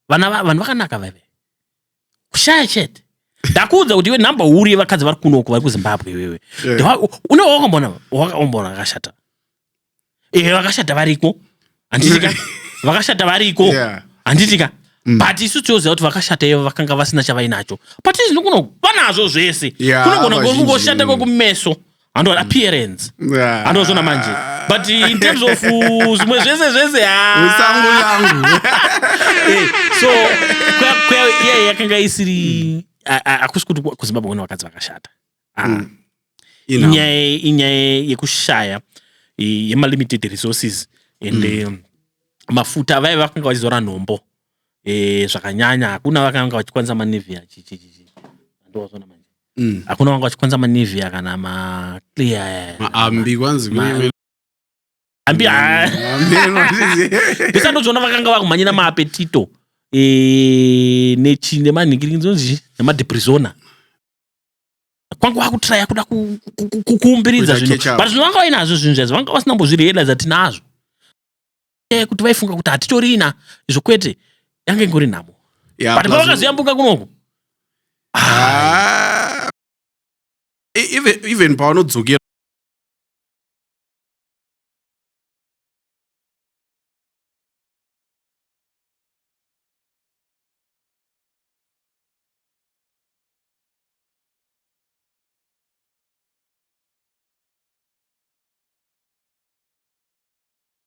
vana vanhu vakanaka vaive kushaya chete ndakuudza kuti iwe number huru yevakadzi vari kunoko vari kuzimbabwe iwewe yeah. une wakamboona wakaomboona vakashata ehe vakashata variko handitika vakashata variko yeah. handitika Mm. but isu tioziva kuti vakashata ivo vakanga vasina chavainacho but izvino kuno vanazvo zvese yeah, kunogona kungoshata kwekumeso handova mm. appearance ah. handova zvona manje but in terms of uh, zvimwe zvese zvese hasangu ah. yangu eh, so kwaiye yakanga isiri hakusi kuti kuzimbabwe kune vakadzi vakashata ah. mm. inyaya yekushaya yemalimited resources and mm. um, mafuta vaive vakanga vachizora nhombo eh, zvakanyanya hakuna vakanga vachikwanisa manivia ndovaona manje Mm. hakuna vanga vachikwanisa manivia kana maclear aya. maambi kwanzi Ma- kune- ambi ah, Maambi anoti- pesa ndozvona vakanga vakumhanyira maapetito eh, nechi nemanhingiringi dzinonzi nemadeprisona kwanga wakutraya kuda ku- ku- ku- ku- kuumbiridza Kuita zvinhu catch up. but zvino vanga vainazvo zvinhu zvaizvo vanga vasina mbozvirealiza tinazvo nyaya yekuti vaifunga kuti hatitorina izvo kwete yange ingori nhamo Yeah, but plus- pavakazoyambuka kunoku Ah. E- even even pavanodzokera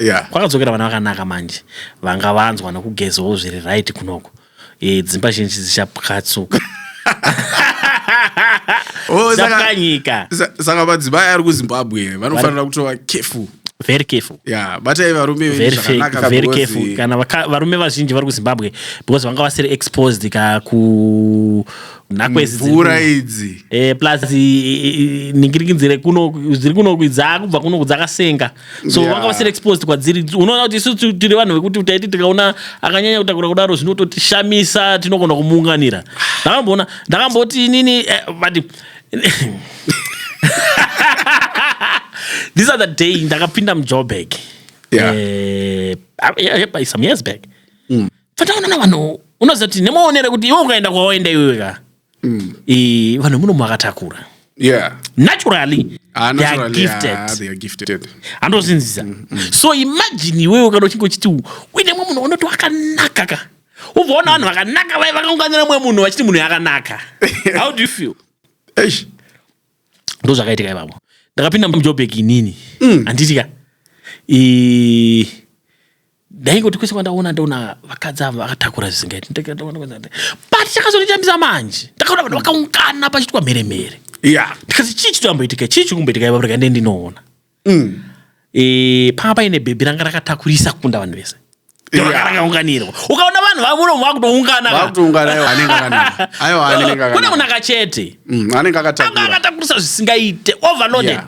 yeah. kwakadzokera vana vakanaka manje vanga vanzwa nokugezawo zviri right kunoko e, dzimba zhinji dzichapwatsuka oh, dzakanyika saka madzimai ari kuzimbabwe vanofanira kutova kefu very careful yeah batai varume very zvakanaka very careful kana varume vazhinji vari kuzimbabwe because vanga vasiri exposed ka ku nhakwe idzi dziri mvura kuno. idzi Eh, plus i- i- i- ningirikinzi rekuno dziri kunoku dzaakubva kunoku dzakasenga so Yeah. vanga vasiri exposed kwadziri unoona kuti isu tu- tiri vanhu vekuti taiti tikaona akanyanya kutakura kudaro zvinototishamisa tinogona kumuunganira ndakamboona ndakamboti inini eh, but this other day ndakapinda mujoburg Yeah. Eh, ah, yeah, yeah, by some years back fataona na vanhu unoziva kuti nemaonero kuti iwe ukaenda kwawaenda iwewe ka mm. e, vanhu munomu vakatakura yeah. naturally ah, andozinzisa mm, mm. so imagine iwewe ukada uchinge uchiti uine mwe munhu unoti wakanaka ka uvaona vanhu vakanaka vai vakaunganira mwe munhu vachiti munhu yakanaka how do you feel ndo zvakaitika ivavo ndakapinda mujobek inini mm. handiti ka ndaingoti kwese kwandaona ndaona vakadzi ava vakatakura zvisingaiti but chakazonditambisa manje ndakaona vanhu vakaungana pachitwa mhere mhere ndikazi chii chito amboitika chii chiri kumboitika ipapo rega ndee ndinoona mm. e, panga paine bhebhi ranga rakatakurisa kukunda vanhu vese rakaunganirwa ukaona vanhu vamuno vakutounganakune munhu akachete mm, anga akatakurisa zvisingaite overloaded yeah.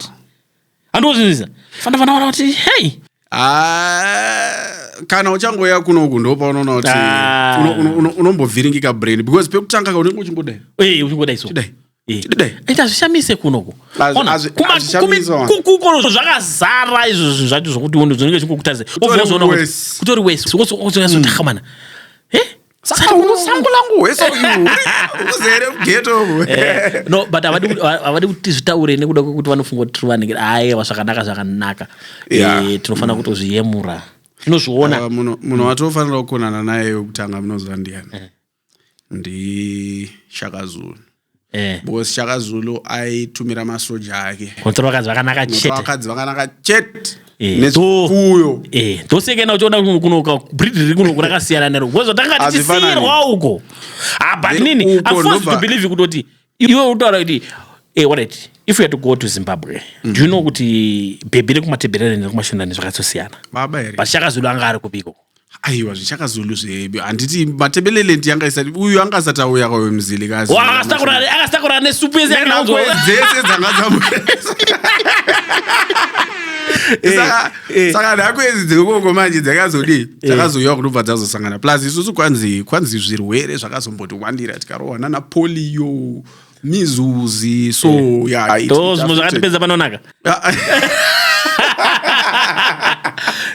handozvinzisa fana fana vana kuti hei Ah, kana uchangoya kunoku ndopaunoona kuti Ah. uno- uno- uno- unombovhiringika brain because pekutanga ka unenge uchingodai ee uchingodai so Chidai. Eh. Chidai. ita hazvishamise kunoko Hazvi- Ona, hazvi- kuma- hazvishamisi kumi- wana. ku- kukono zvakazara izvo zvinhu zvacho zvokuti unhu zvinenge zvingokutarise Kutori worse. kutori wese Kutonyatsoti, "Ah, mana he saka unosango langu hwese uzere geto eh, no but havadi kuti zvitaure nekuda kwekuti vanofunga kuti tiri vanenge ayewa zvakanaka zvakanaka eh, tinofanira kutozviyemura tinozviona ah, munhu watofanira kukonana naye wekutanga munoziva ndiyani eh. ndishakazunu Eh. because shaka zulu aitumira masoja ake Kunotsa vakadzi vakanaka Kunotsa chete. vakadzi vakanaka chete Eh, nezvipfuyo Eh, ndoseke ena uchiona kuno- kuno ka- breed riri kuno kurakasiyana nero because zvatanga Hazvifanani. tichisiyirwa uko ah but Then nini uko i'm forced to ndobva- believe kutoti iwe utaura kuti eh what it if you had to go to zimbabwe do you know kuti bhebhi rekumatebherereni rekumashinani zvakatsosiyana baba here but shaka zulu anga ari kupiko aiwa zvichakazulu zvedu handiti matebelelenti yanga isati uyu anga asati auya kwawe muzili kazi Wa, akasitakura ne- akasitakura nesupu yese yakananzwa dzese dzanga Saka- eh. saka nhako idzi dzekoko manje dzakazodii dzakazoiwa kunobva dzazosangana plus isusu kwanzi kwanzi zvirwere zvakazombotiwandira tikarohwa nana polio mizuzi so eh. yeah, it, it zvimwe zvakatipedza panonaka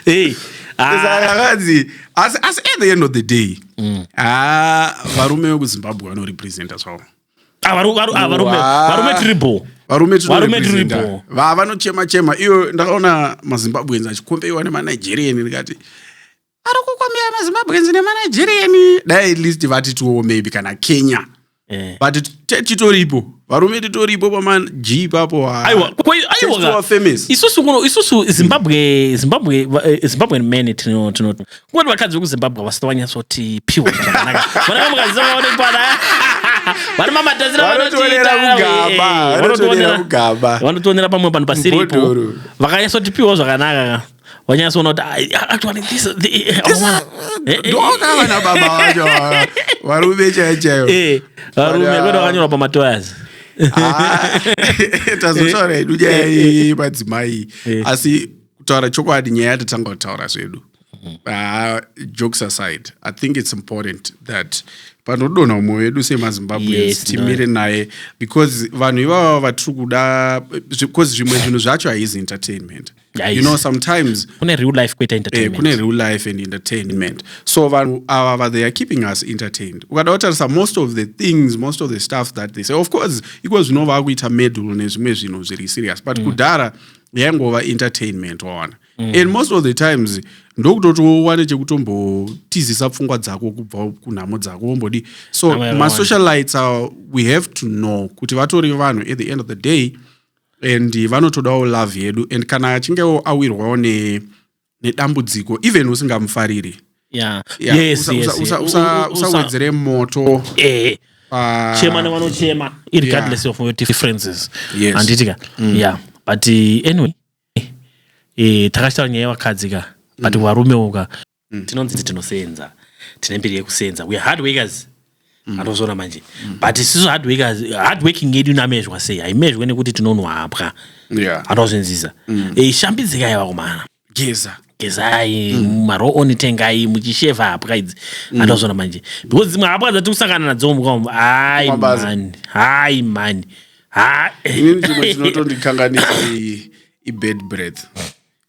hey zvakanzi ah. asi asi at the end of the day mm. ah, varume vekuzimbabwe vanorepresenta zvavo ah, varume tribo varume tribo vavanochema chema iyo ndakaona mazimbabweans achikombeiwa nemanigerian ndikati ari kukombera mazimbabweans nemanigerian dai at least vatitiwo maybe kana kenya Eh. but te- titoripo varume titoripo paman g ipapo ah. Aiwa, kwa- kwa- aiwa Thanks to ka. our famous. isusu kuno isusu zimbabwe zimbabwe va- eh, zimbabwean men tino tino kungoti vakadzi vekuzimbabwe havasati vanyatsoti piwa zvakanaka vanaka mukazizaa vanoti pana vane mamatazira Vanotionera kugaba, vanotionera kugaba. vanotionera pamwe panhu pasiripo Mbodoro. vakanyatsoti piwa zvakanaka ka wanyatsoona kuti ah, actually this eh, eh, ndoona vana baba vacho varume chaiyo chaiyo varume kwete vakanyora pamatoyazi Ah. tazotaura hedu eh, nyaya eh, eh. yemadzimai asi kutaura chokwadi nyaya yatatanga kutaura zvedu ah, jokes aside i think it's important that panodonha umwe wedu semazimbabweans timire naye because vanhu ivava vatiri kuda because zvimwe zvinhu zvacho haizi entertainment Guys, you know sometimes kune real life kuita eh, entertainment kune real life and entertainment so vanhu ava va- they are keeping us entertained ukada kutarisa most of the things most of the stuff that they say of course iko zvino vakuita medal nezvimwe zvinhu zviri serious but kudhara yaingova entertainment waona and most of the times ndokutotowane chekutombotizisa pfungwa dzako kubva kunhamo dzako wombodi so Amai Rwanda. masocialites awa we have to know kuti vatori vanhu at the end of the day and vanotodawo love yedu and kana achingewo awirwawo nedambudziko even usingamufariri usawedzere moto eh. ah. chema nevanochema irregardless of your differences handiti ka mm. ya but eh, anyway eh, takachitaura nyaya yevakadzi ka but mm. varumewo ka mm. tinonzi ti tinosenza tine mbiri yekusenza weare hard workers mm. anozona manje mm. but isisu hard workers hard working yedu namezhwa sei haimezhwe nekuti tinonwapwa yeah. anozvinzisa mm. e, eh, shambidzika yava kumana geza gezai mm. maro oni tengai muchisheva hapwa idzi mm. anozona manje because dzimwe hapwa dzati kusangana nadzo mukam hai mani hai mani hainini chimwe chinotondikanganisa ibed breath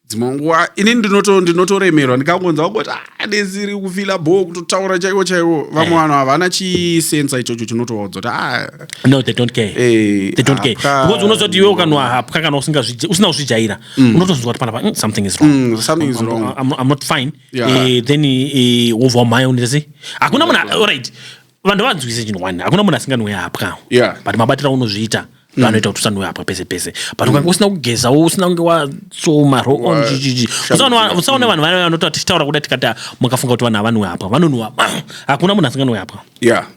dzimwe nguva ini ndinoto ndinotoremerwa ndikangonza kungoti ah, desiri kufila bho kutotaura chaiwo chaiwo vamwe Eh. vanhu havana chisensa ichocho chinotoodza kuti ah, no they don't care eh, they don't care hapwa- because unozoti iwe ukanwa hapwa kana usingazvija- usina kuzvijaira unotozonzwa kuti panapa mm, something is wrong Mm, something is I'm- wrong. I'm, I'm not fine Yeah. Eh, then eh, wobva wamhaya unoti sei hakuna munhu alright vanhu vanzwise chinhu one hakuna munhu asinganwe hapwa yeah. but mabatira unozviita mm. anoita kuti usanwe hapwa pese pese but ukange mm. usina kugezawo usina kunge watsoma roon chichichi usaona vanhu vaya vanoti tichitaura kuda tikati mukafunga kuti vanhu havanwe hapwa vanonwa hakuna munhu asinganwe hapwa yeah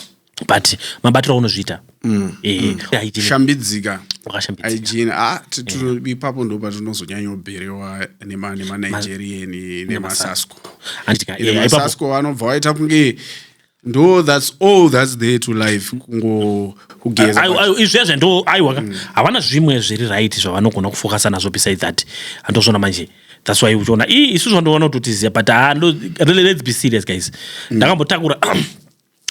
but mabatiro aunozviita mm. eh, mm. eh, shambidzika aijini ah, eh. ipapo ndo patinozonyanyoberewa nemanigerian nemasasco anobva waita kunge ndo thats all thats there to life kungo kugeza izvezve ndo aiwa mm. havana zvimwe zviri right zvavanogona kufokasa nazvo beside that andozvona manje thats why uchiona i isu zvandoona kuti totiziva but ah, let's be serious guys mm. ndakambotakura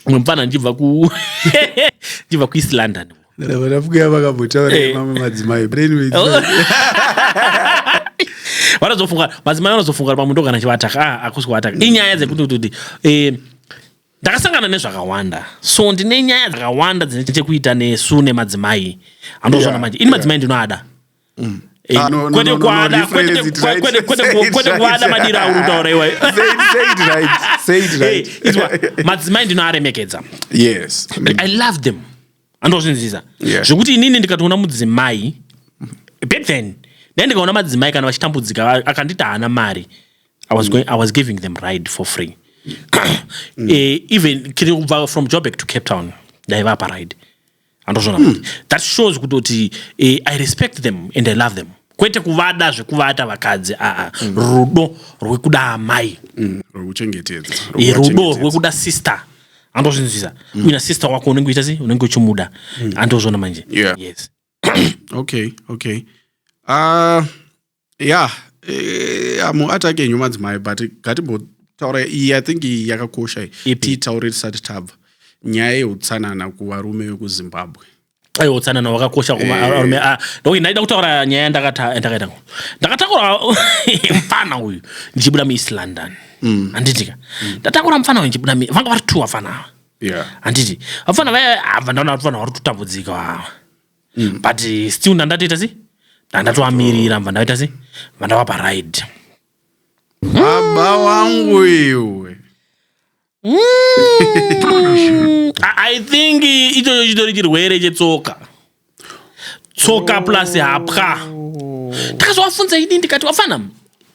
mwe mupfana ndichibva ku ndichibva kueast london vanapfuya vakambotaura eh. mamwe madzimai vanozofunga madzimai vanozofunga kuti pamundo kana chivataka ah, akusi kuvataka mm. inyaya dzekuti kuti eh, ndakasangana nezvakawanda so ndine nyaya dzakawanda dzine chekuita nesu nemadzimai andozoona manje ini madzimai ndinoada mm. Eh, ah, no, no, no, no, no, rephrase it right. Kwete, kwete, kwete, kwete kuada madiro auri kutaura iwayo. Say it, say it right. Say it right. Hey, izwa, madzimai ndinoaremekedza. Yes. Like, I love them. Andozvinzisa. Yeah. Zvekuti inini ndikatoona mudzimai, back then, then ndikaona madzimai kana vachitambudzika akandita hana mari. I was mm. going I was giving them ride for free. mm. eh, even kiri kubva from Joburg to Cape Town. Ndaiva paride. andozvona mm. that shows kutoti eh, i respect them and i love them kwete kuvada zvekuvata vakadzi aa mm. rudo rwekuda amai mm. rwekuchengetedza eh, rudo rwekuda sister andozvinzwisa mm. uina sister wako unenge uita sei unenge uchimuda mm. andozvona manje yeah. yes okay okay uh, ya eh, amuataki enyu madzimai but ngatimbotaura iyi i think iyi yakakosha iyi Ipi? tiitaure tisati tabva nyaya yeutsanana kuvarume vekuzimbabwe aiwa utsanana wakakosha kuma- Eh. arume a- ndokuti ndaida kutaura nyaya yandakata- yandakaita ngo ndakatakura mfana uyu ndichibuda mueast london Mm. handitika ndatakura mfana uyu ndichibuda mu- vanga vari two vafana ava yeah. handiti vafana vaya hava ndaona kuti vanhu vari kutambudzika ava mm. but still ndandatoita si ndandatoamirira mva ndaita si mva ndavapa ride baba wangu iwe mm. i think ichocho chitori chirwere chetsoka tsoka oh. plus hapwa ndakazovafunza ini ndikati wafana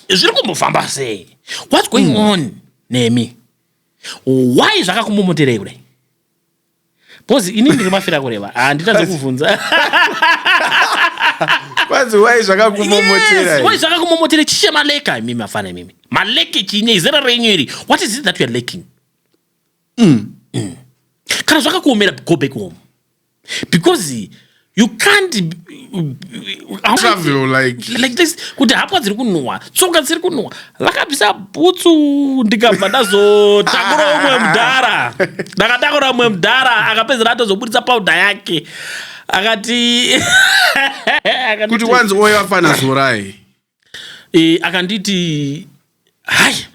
zviri kumbofamba sei what's going mm. on nemi why zvakakumbomoterei kudai Bcoz ini ndiri mafira kureva handitadze kuvhunza kwanzi wai zvakakumomotera wai zvakakumomotera chishe maleka imimi mafana imimi maleke chine izera renyu iri what is it that youare laking mm. mm. kana zvakakuomera go back home because you can't travel like like this kuti hapwa dziri kunhuwa tsoka dziri kunhuwa vakabvisa bhutsu ndikabva ndazotakura umwe mudhara ndakatakura umwe mudhara akapedzera atozoburitsa pauda yake akati kuti wanzi oyo afana zorai e, akanditi hai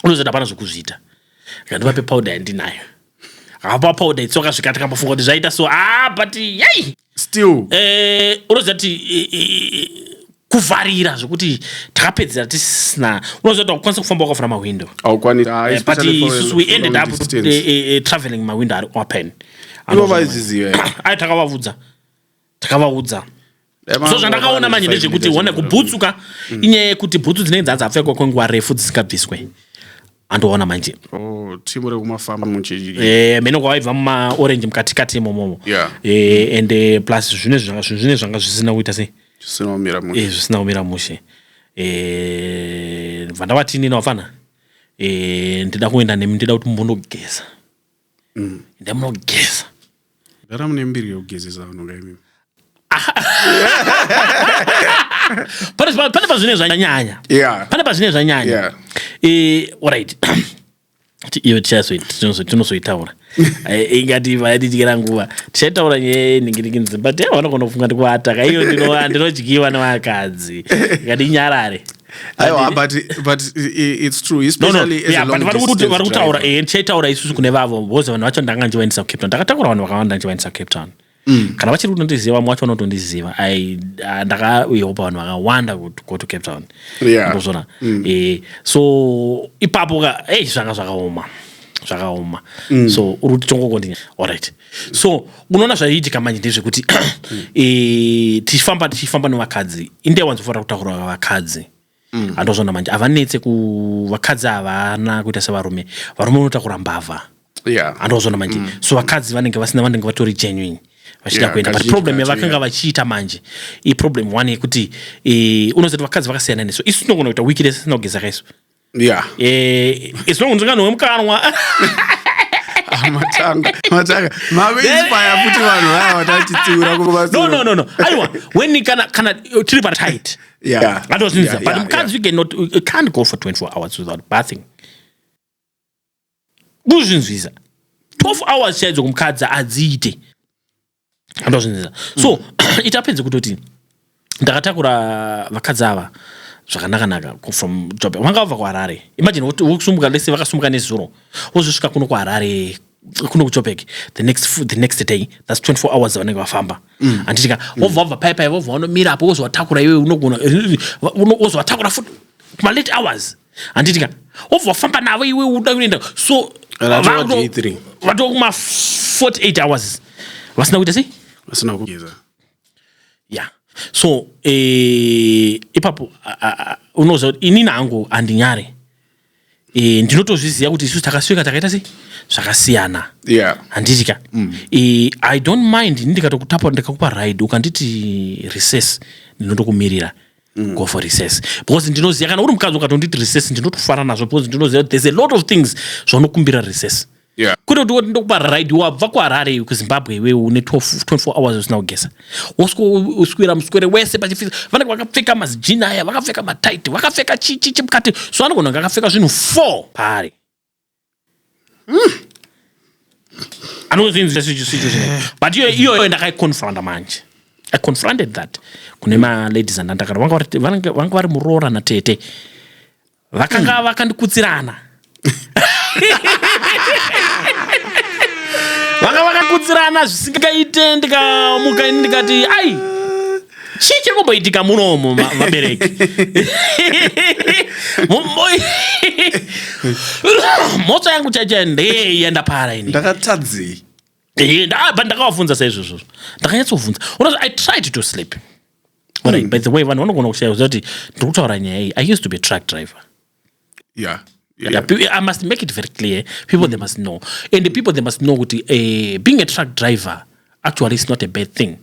unozoita hapana zvokuzviita akandiva pepowder yandinayo hapa powder itsoka zvikati kambofunga kuti zvaita so ah but yei still eh unoziva kuti eh, eh, kuvharira zvekuti takapedzera tisina unoziva kuti akukwanisa kufamba wakafura mahwindo eh, but isusu we ended up traveling mahwindo ari open ivo vaizviziva ayo takavavudza takavaudza so zvandakaona manje ndezvekuti one kubhutsu ka mm. inyaya yekuti bhutsu dzinenge dzanzi apfekwa kwenguva refu dzisingabviswe andoona manje oh, timu rekumafamba eh, mene kwavaibva mumaorange mukatikati imomomo eh, and eh, plus zvine zvanga zvisina kuita sei zvisina kumira mushe vandavatini navafana ndida kuenda nemi ndida kuti mbonogeza mm. enda munogeza gara mune mbiri yekugezesa vanhu kaimi pane pazvine zvanyanya pane pazvine zvanyanya eh, orit iyo tichazoitaura eh, ingati vayatityira nguva tichaitaura nyaya yenhingiringinzi but vanogona kufunga ndikuvataka iyo ndinodyiwa nevakadzi ingati inyarare aiwa but but it's true especially no, no. Yeah, vari kuti vari kutaura eh ndichaitaura isusu kune vavo because vanhu vacho ndanga ndichivaendesa kucape town ndakatakura vanhu vakawanda ndichivaendesa kucape town mm. kana vachiri kutondiziva vamwe vacho vanotondiziva ah, ndakauyawo pavanhu vakawanda go to cape town ndozvona yeah. mm. eh, so ipapo ka ei zvanga zvakaoma zvakaoma mm. so uri kuti tongokondinya allright so unoona zvaiitika manje ndezvekuti e, tichifamba tichifamba nevakadzi inde wanzofanira kutaura vakadzi mm. andozvona manje havanetse vakadzi havana kuita sevarume varume unotakura mbavha yeah. andozvona manje mm. so vakadzi vanenge vasina vanenge vatori genuine vachida kuenda but problem yavakanga vachiita manje iproblem one yekuti e, unozoti vakadzi vakasiyana nesu isu tinogona kuita wiki rese sina kugeza kaisu yeah. eh, as long ndikanwe mukanwa ah, matanga matanga mave inspire futi vanhu vaya vatachitsiura kumasoro no no no no aiwa when kana kana tiri pa tight yeah yeah. that was yeah, but mukadzi yeah. you cannot you can't go for 24 hours without bathing kuzvinzwisa 12 hours chaidzo kumukadzi adziite andozvinzira so mm. it happens kutoti ndakatakura vakadzi ava zvakanakanaka from job vanga vabva kuharare imagine wokusumuka lese vakasumuka nezuro wozosvika kuno kuharare kuno kuchopek the next, the next day thats 24 hours vanenge vafamba mm. anditika wobva wabva pai pai wobva wanomira apo wozovatakura iwe unogona wozovatakura futi malate hours handiti ka wobva wafamba navo iwe uda kuenda so vatova kuma 48 hours vasina kuita sei vasina kugeza ya so eh, ipapo unoziva kuti inini hangu handinyare eh, ndinotozviziva kuti isusu takasvika takaita sei zvakasiyana handiti ka mm. eh, i don't mind ini ndikatokutapa ndikakupa ride ukanditi recess ndinotokumirira Mm. go for recess because ndinoziva kana uri mukadzi ukatonditi recess ndinotofara nazvo because ndinoziva kuti there's a lot of things zvaunokumbira recess yeah. kuti kuti woti ndokupa ride wabva kuharare kuzimbabwe iwewe une 24 hours usina kugeza woswera muswere wese pachifisa vanenge vakapfeka mazijini aya vakapfeka matight vakapfeka chichi chimukati so anogona kunge akapfeka zvinhu four paari anozvinzisa situation eh. but iyo iyoyo ndakaiconfronta manje i confronted that kune maladies andandakara vanga vari muroora natete vakanga hmm. vakandikutsirana vanga vakakutsirana zvisingaite ndikamuka ini ndikati ai chii chiri kumboitika munomo vabereki mhotso yangu chaichai ndei yenda para ini ndakatadzei ndabva ndakavafunza saizvozvo ndakanyatsofunza unozi i tried to sleep Alright, mm. by the way vanhu vanogona kushaya kuti ndiri kutaura nyaya iyi i used to be truck driver yeah Yeah. Yeah, pe- I must make it very clear. People they must know, and the people they must know kuti eh, being a truck driver actually is not a bad thing.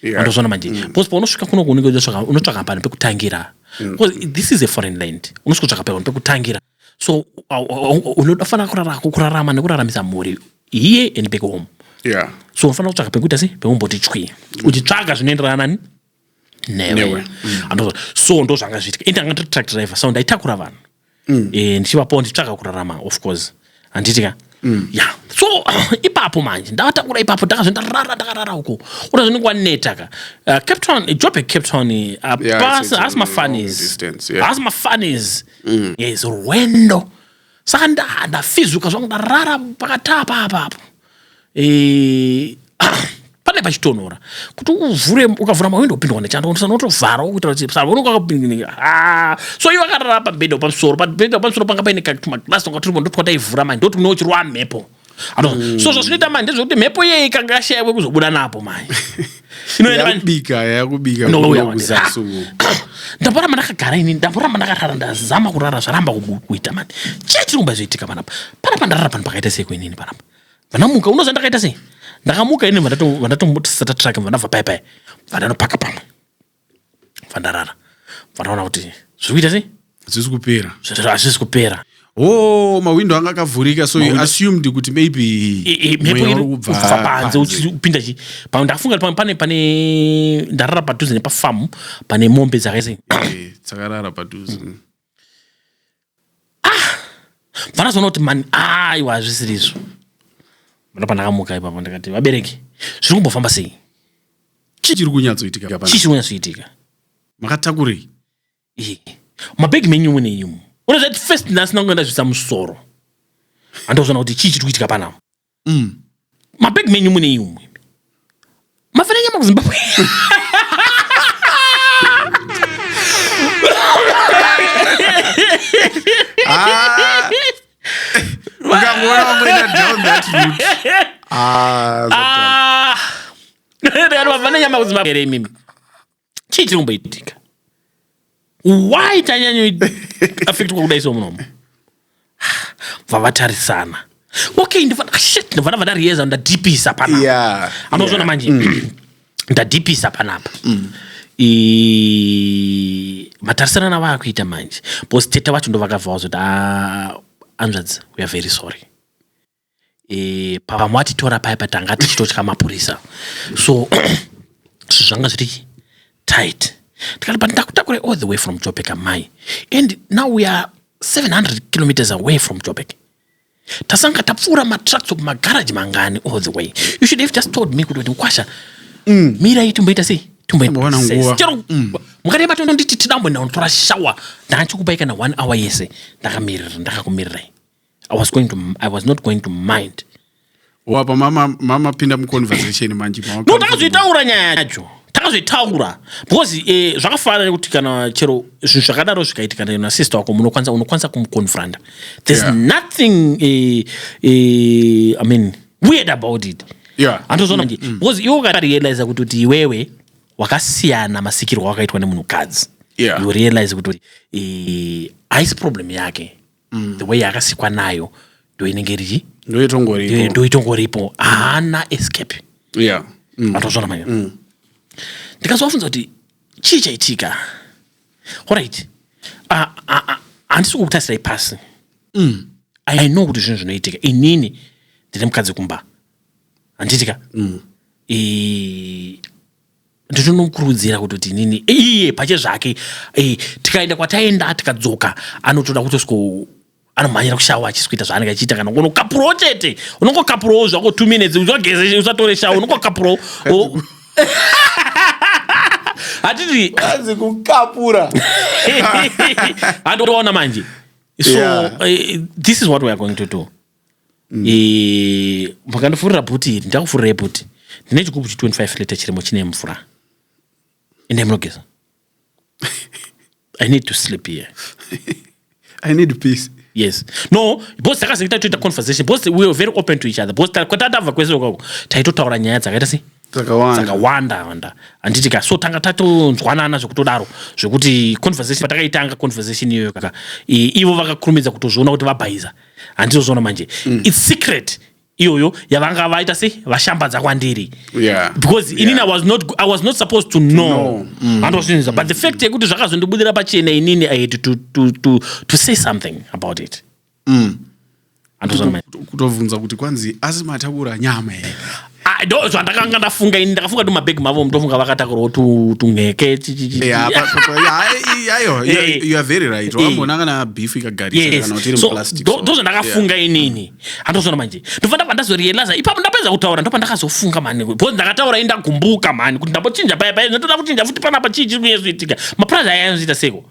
Yeah. Wandozviona manje because paunosvika kuno kunenge unotsvaka- unotsvaka panhu pekutangira because this is a foreign land unosvika kutsvaka panhu pekutangira so au- au- unofanira kurara- kurarama nekuraramisa mhuri here and back home yeah so unofanira kutsvaka pekuita sei pekumboti chwi uchitsvaga zvinoenderana nani newe mm. so ndo zvanga zviitika ende anga ndiri truck driver so ndaitakura vanhu mm. eh, ndichivapawo ndichitsvaka kurarama of course handiti ka mm. ya so ipapo manje ndavatakura ipapo ndakazve ndarara ndakarara uko kuda zvinenge waneta ka uh, cape town eh, jobe cape town eh, apasi haasi mafanis haasi mafanis yes rwendo saka ndafizuka zvangu ndarara pakatapa apapo e, pane pachitonhora kuti uvhure ukavhura mawindo upindwa nechando unotovhara kuitira kuti savona kwakapindinika ah, so iye vakarara pabhedha pamusoro pabhedha pamusoro panga paine katumaglas tonga turipo ndotwataivhura manje ndoti kune uchirova mhepo mm. so zvazvinoita manje ndezvekuti mhepo iyeyi kanga yashaiwe kuzobuda napo manje inoenda manje yakubika yakubika No, kuno yawa. kuzasi uko ndamboramba ndakagara ini ndamboramba ndakarara ndazama kurara zvaramba kubu- kuita mani chii chiri kumba zvoitika panapa panapa ndarara pano pakaita sei kuinini panapa vanamuka unoziva ndakaita sei ndakamuka ini vandatombotisata trake vandabva pai pai vandanopaka pamwe fandarara fandaona kuti zviri kuita sei hazvisi kupera hazvisi kupera oh mahwindo anga akavhurika so you assumed kuti maybe mhepo iri kubva panze uchipinda chi pamwe ndakafunga kuti pane pane ndarara padhuze nepafamu pane mombe dzakaise eh, dzakarara padhuze ah vanozoona kuti mani aiwa hazvisiri izvo mano pandakamuka ipapo ndikati vabereki zviri kumbofamba sei chii chiri kunyatsoitika chii chiri kunyatsoitika makatakurei eh, mabhegi menyu mune imu unozvati first ndasina kunge ndazvisa musoro handozvona kuti chii chiri kuitika panapa Mm. Mabag menyu mune iyo mwe. Mafana nyama kuZimbabwe. Ah. Ukangoona wamboenda down that route. Ah, that- Ah. Mafana nyama kuZimbabwe here imimi. chii chiri kumboitika why tanyanyoafektwa kudai so munomo bva vatarisana okay ndivana vadariyeza ndadipisa panapa anozvona manje mm. ndadipisa panapa mm. matarisana navaakuita manje bcause teta vacho ndovakabva vazoti ah, anzvadzi weare very sorry e, pavamwe vatitora paya patanga tichitotya mapurisa so zvanga zviri tight tikati but ndakutakurai all the way from jobek amai and now we are 700 kilometers away from jobek tasanga tapfuura matrucks of magaraji mangani all the way you should have just told me kuti ndikwasha mm. mirai timboita sei timboona nguva chero mm. mukadai matono nditi tidambo ndinotora shawa ndanga chikupai kana one hour yese ndakamiririra ndakakumirirai I was going to, I was not going to mind wapa mama mama pinda mu conversation manje mama no takazoitaura nyaya yacho takazoitaura because eh, zvakafanana nekuti kana chero zvinhu zvakadaro zvikaitika na sister wako munokwanisa unokwanisa kumuconfronta there's yeah. nothing eh, eh, i mean weird about it yeah. antozoona nje mm, mm. because iwe ukarealiza kuti kuti iwewe wakasiyana masikirwo wakaitwa nemunhukadzi yeah. you realize kuti kuti eh, haisi problem yake mm. the way yakasikwa nayo ndo inenge iri ndo itongoripo haana escape yeah. mm. atozvona manya mm. ndikazovafunza kuti chii chaitika orit handisi kukutasirai pasi mm. i know kuti zvinhu zvinoitika inini ndine mukadzi kumba handiitika mm. ndinonokurudzira kutoti nini iye pache zvake eh, tikaenda kwataenda tikadzoka anotoda kutosiko anomhanyira kushawa achisikuita zvaanenge achiita kana unokapurawo chete unongokapurawo zvako two minutes usageze usatore shawa unongokapurawo hatiti anzi kukapura handoona manje so yeah. uh, this is what weare going to do Eh, makandifurira bhuti iri ndakufurirai bhuti ndine chigubhu chi 25 liter chirimo chine mvura endai munogeza i need to sleep here i need peace yes no bos takazengeta toita conversation bos we were very open to each other bos kwatatava kwese kwako taitotaura nyaya dzakaita sei dzakawanda wanda handiti ka so tanga tatonzwanana zvekutodaro zvekuti conversation patakaitanga conversation iyoyo kaka ivo vakakurumidza kutozviona kuti vabhaiza e, handizvozvoona manje mm. its secret iyoyo yavanga vaita se vashambadza kwandiri yeah. because yeah. inini I was, not, i was not supposed to know handozvinza no. mm. but the fact yekuti zvakazondibudira pachena inini i had to, to, to, to say something about it mm. kutovhunza kuti kwanzi asi matakura nyama here Ah, ndo zvandakanga ndafunga ini ndakafunga kuti mabhegi mavo mutofunga vakatakurwa tu- tunheke chi- chi- chi- Yeah, pa- pa- pa- yeah, I- I- ayo, you- Eh. you are very right. Eh. Wambona kana beef ikagarisa Yes. kana kuti iri So, muplastic, ndo so- ndo zvandakafunga inini handozvona manje ndobva ndabva ndazorealiza ipapo ndapedza kutaura ndobva ndakazofunga mani because ndakataura ini ndagumbuka mani kuti ndambochinja paya paya ndotoda kuchinja futi panapa chii chiri kunyezoitika mapurazi aya anozoita seko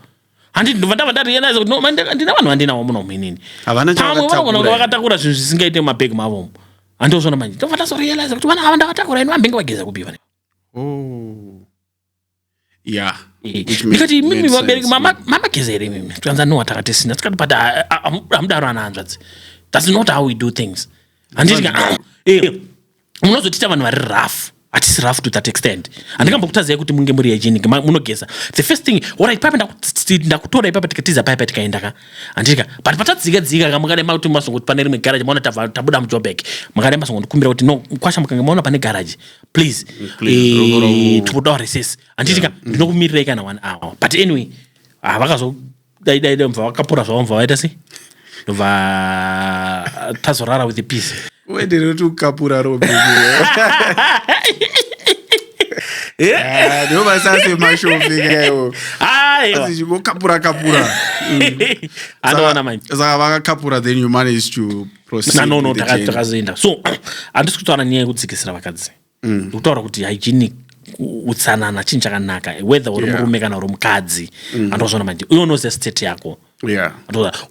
handi ndobva ndabva ndarealiza kuti handina vanhu vandinawo muno muinini pamwe vanogona kunge vakatakura zvinhu zvisingaite mumabhegi mavomo handozvona manje ndobva ndazorealiza kuti vana ava ndavatakura ini vambenge vageza kupi vane oh. ya eh, ndikati imimi vabereki mamageza here imimi tikanza no watakatisina tikati but hamudaro ana hanzvadzi thats not how we do things handiti eh, eh, munozotiita vanhu vari rafu hatisi rafu to that extent handingambokutadzai kuti munge muri hygienic munogeza the first thing orit paipa ndakutora ipapa tikatiza paipa tikaenda ka handitika but patadzika dzika ka mukadai makuti masongoti pane rimwe garaji maona tabuda mujobek mukadai masongondikumbira kuti no kwasha mukange maona pane garaji please eh, tikudawo reses handitika mm. ndinokumirirai kana one hour but anyway ah, vakazo dai dai dai mva vakapora zvavo mva vaita sei va tazorara with peace wendere kuti ukapura robe eh? ah, ndiwo masase mashomekaeo kapura kapura anowana manje saka vakakapura then you manage to proceed no no takazoenda so handisi kutaura nyaya yekudzikisira vakadzi mm. kutaura kuti hygienic utsanana chinhu chakanaka whether uri yeah. murume kana uri mukadzi mm. andozvona manje uye unoziva state yako yeah.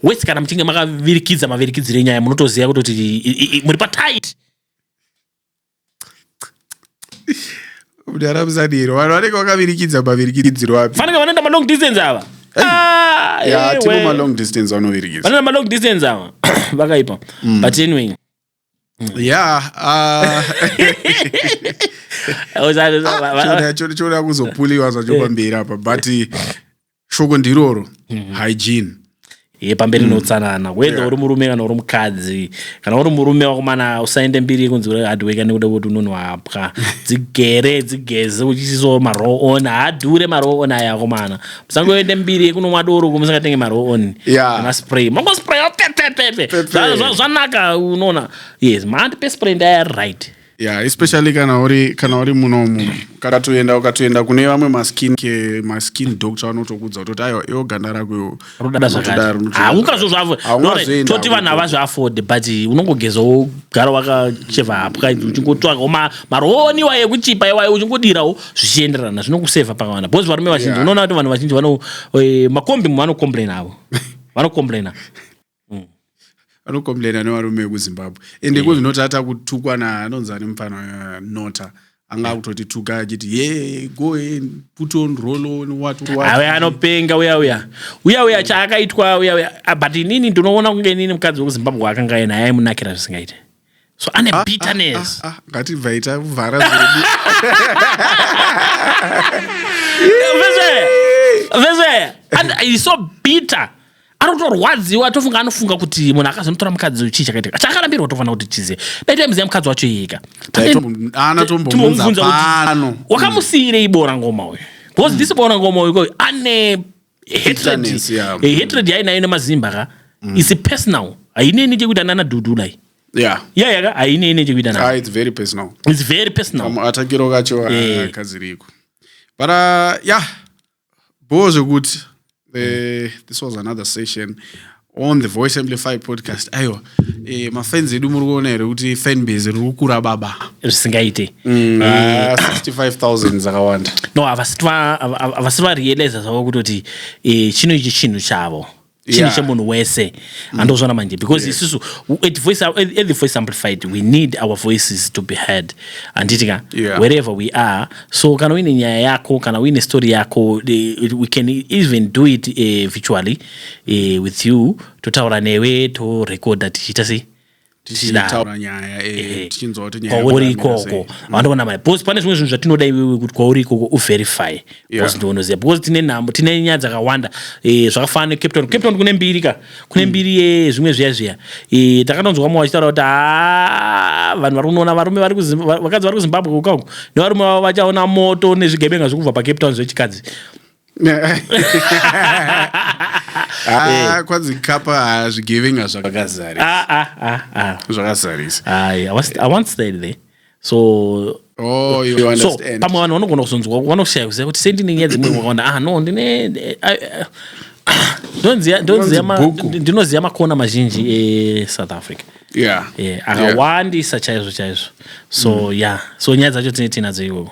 wese kana muchinge makavirikidza mavirikidziro enyaya munotoziva kutoti muri patit mudara musadiro vanhu vanenge vakavirikidza mavirikidziro api fanenge vanoenda malong distance ava ah, eh, tivo malong distance vanovirikidza vanoenda malong distance ava vakaipa mm. but anyway yeah ah. choda ah, kuzopuliwa zvacho eh. pamberi apa but eh, shoko ndiroro mhm. hygiene ye pamberi mm. neutsanana whether uri murume kana uri mukadzi kana uri murume wakomana usaende mbiri yekunzi uri hardworker nekuda kuti unonwapwa dzigere dzigeze uchisiso maroon hadhure maroon aya akomana sangoende mbiri yekunomwa doro uko musingatenge maroon yeah. nemaspray mangospray zvanaka unoona yes mahandi pespray ndaya right yeah especially kana uri kana uri munomu ukatoenda ukatoenda kune vamwe maskin ke maskin doctor vanotokudza kutoti aiwa iwo ganda rako iwo rodada zvakatihaungazvo zvavo toti vanhu havazviafode but unongogeza wogara wakacheva hapwa uchingotsvakawo marooniwa yekuchipa iwayo uchingodirawo zvichienderana zvinokuseva pakavanda because varume vazhinji Yeah. unoona kuti vanhu vazhinji vano eh, makombi vanocomplaina avo vanocomplaina vanokomplaina nevarume vekuzimbabwe ende ko zvinoti ata kutukwa na anonzi ane mupfana eh, nota anga akutoti tuka achiti ye go and put on roll on what what awe anopenga uya uya uya uya chaakaitwa uya uya Ah, but inini ndinoona kunge inini mukadzi wekuzimbabwe akanga naye aimunakira zvisingaite so ane ah, ah, bitterness ah, ah, ah. ngatibvai tavhara zvedu and he's so bitter anotorwadziwa atofunga anofunga kuti munhu akazonotora mukadzi uyu chii chakaitika chaakarambirwa tofanira kuti chizive dai taimuziva mukadzi wacho iyeka wakamusiyirei bora ngoma uyu because mm. this bora ngoma uyu ane hatred yainayo nemazimba ka mm. isi personal haineni chekuita nana dudulai yeah yeah yaka haine ine chekuita nayo ah, it's very personal it's very personal um, atakiro kacho ah, eh. kaziriko but uh, yeah bho zvekuti eh, this was another session on the voice amplify podcast aiwa eh, mafans edu muri kuona here kuti fanbase riri kukura baba zvisingaite mm, eh, uh, 65000 dzakawanda no havasi varealiza zvavo kutoti eh, chino ichi chinhu chavo chinhu yeah. chemunhu wese mm. andozvona manje because yes. isusu at, voice, at the voice amplified we need our voices to be heard handiti ka yeah. wherever we are so kana uine nyaya yako kana uine story yako eh, we can even do it uh, virtually eh, with you totaura newe torekodha tichiita sei tichitaura nyaya eh, eh, tichinzwa kuti nyaya kwauri ikoko vandoona mai because pane zvimwe zvinhu zvatinoda iwewe kuti kwauri ikoko uverify because ndionoziva because tine nhambo tine nyaya dzakawanda eh, zvakafana necape town cape town kune mbiri ka kune mm. mbiri yezvimwe zviya zviya takatonzwa vamwe vachitaura kuti haa ah, vanhu vari kunoona varume vakadzi vari kuzimbabwe kukauku nevarume vavo vachaona moto nezvigebenga zvekubva pacape town zvechikadzi Ah, kwanzi kapa ah, zvigevenga zvakazarisa Ah, ah, ah, ah. zvakazarisa Aye, I was- I once stayed there. So oh you so understand pamwe vanhu vanogona kuzonzwa vanoshaya kuziva kuti sei ndine nyaya dzimwe vakaona ah no ndine eh, ah, eh, ah, ndonziya- ndonziya ma- Bhuku. ndi- ndinoziva makona mazhinji esouth africa yeah Eh, Yeah. akawandisa chaizvo chaizvo so yeah so nyaya dzacho tine tinadzo iwowo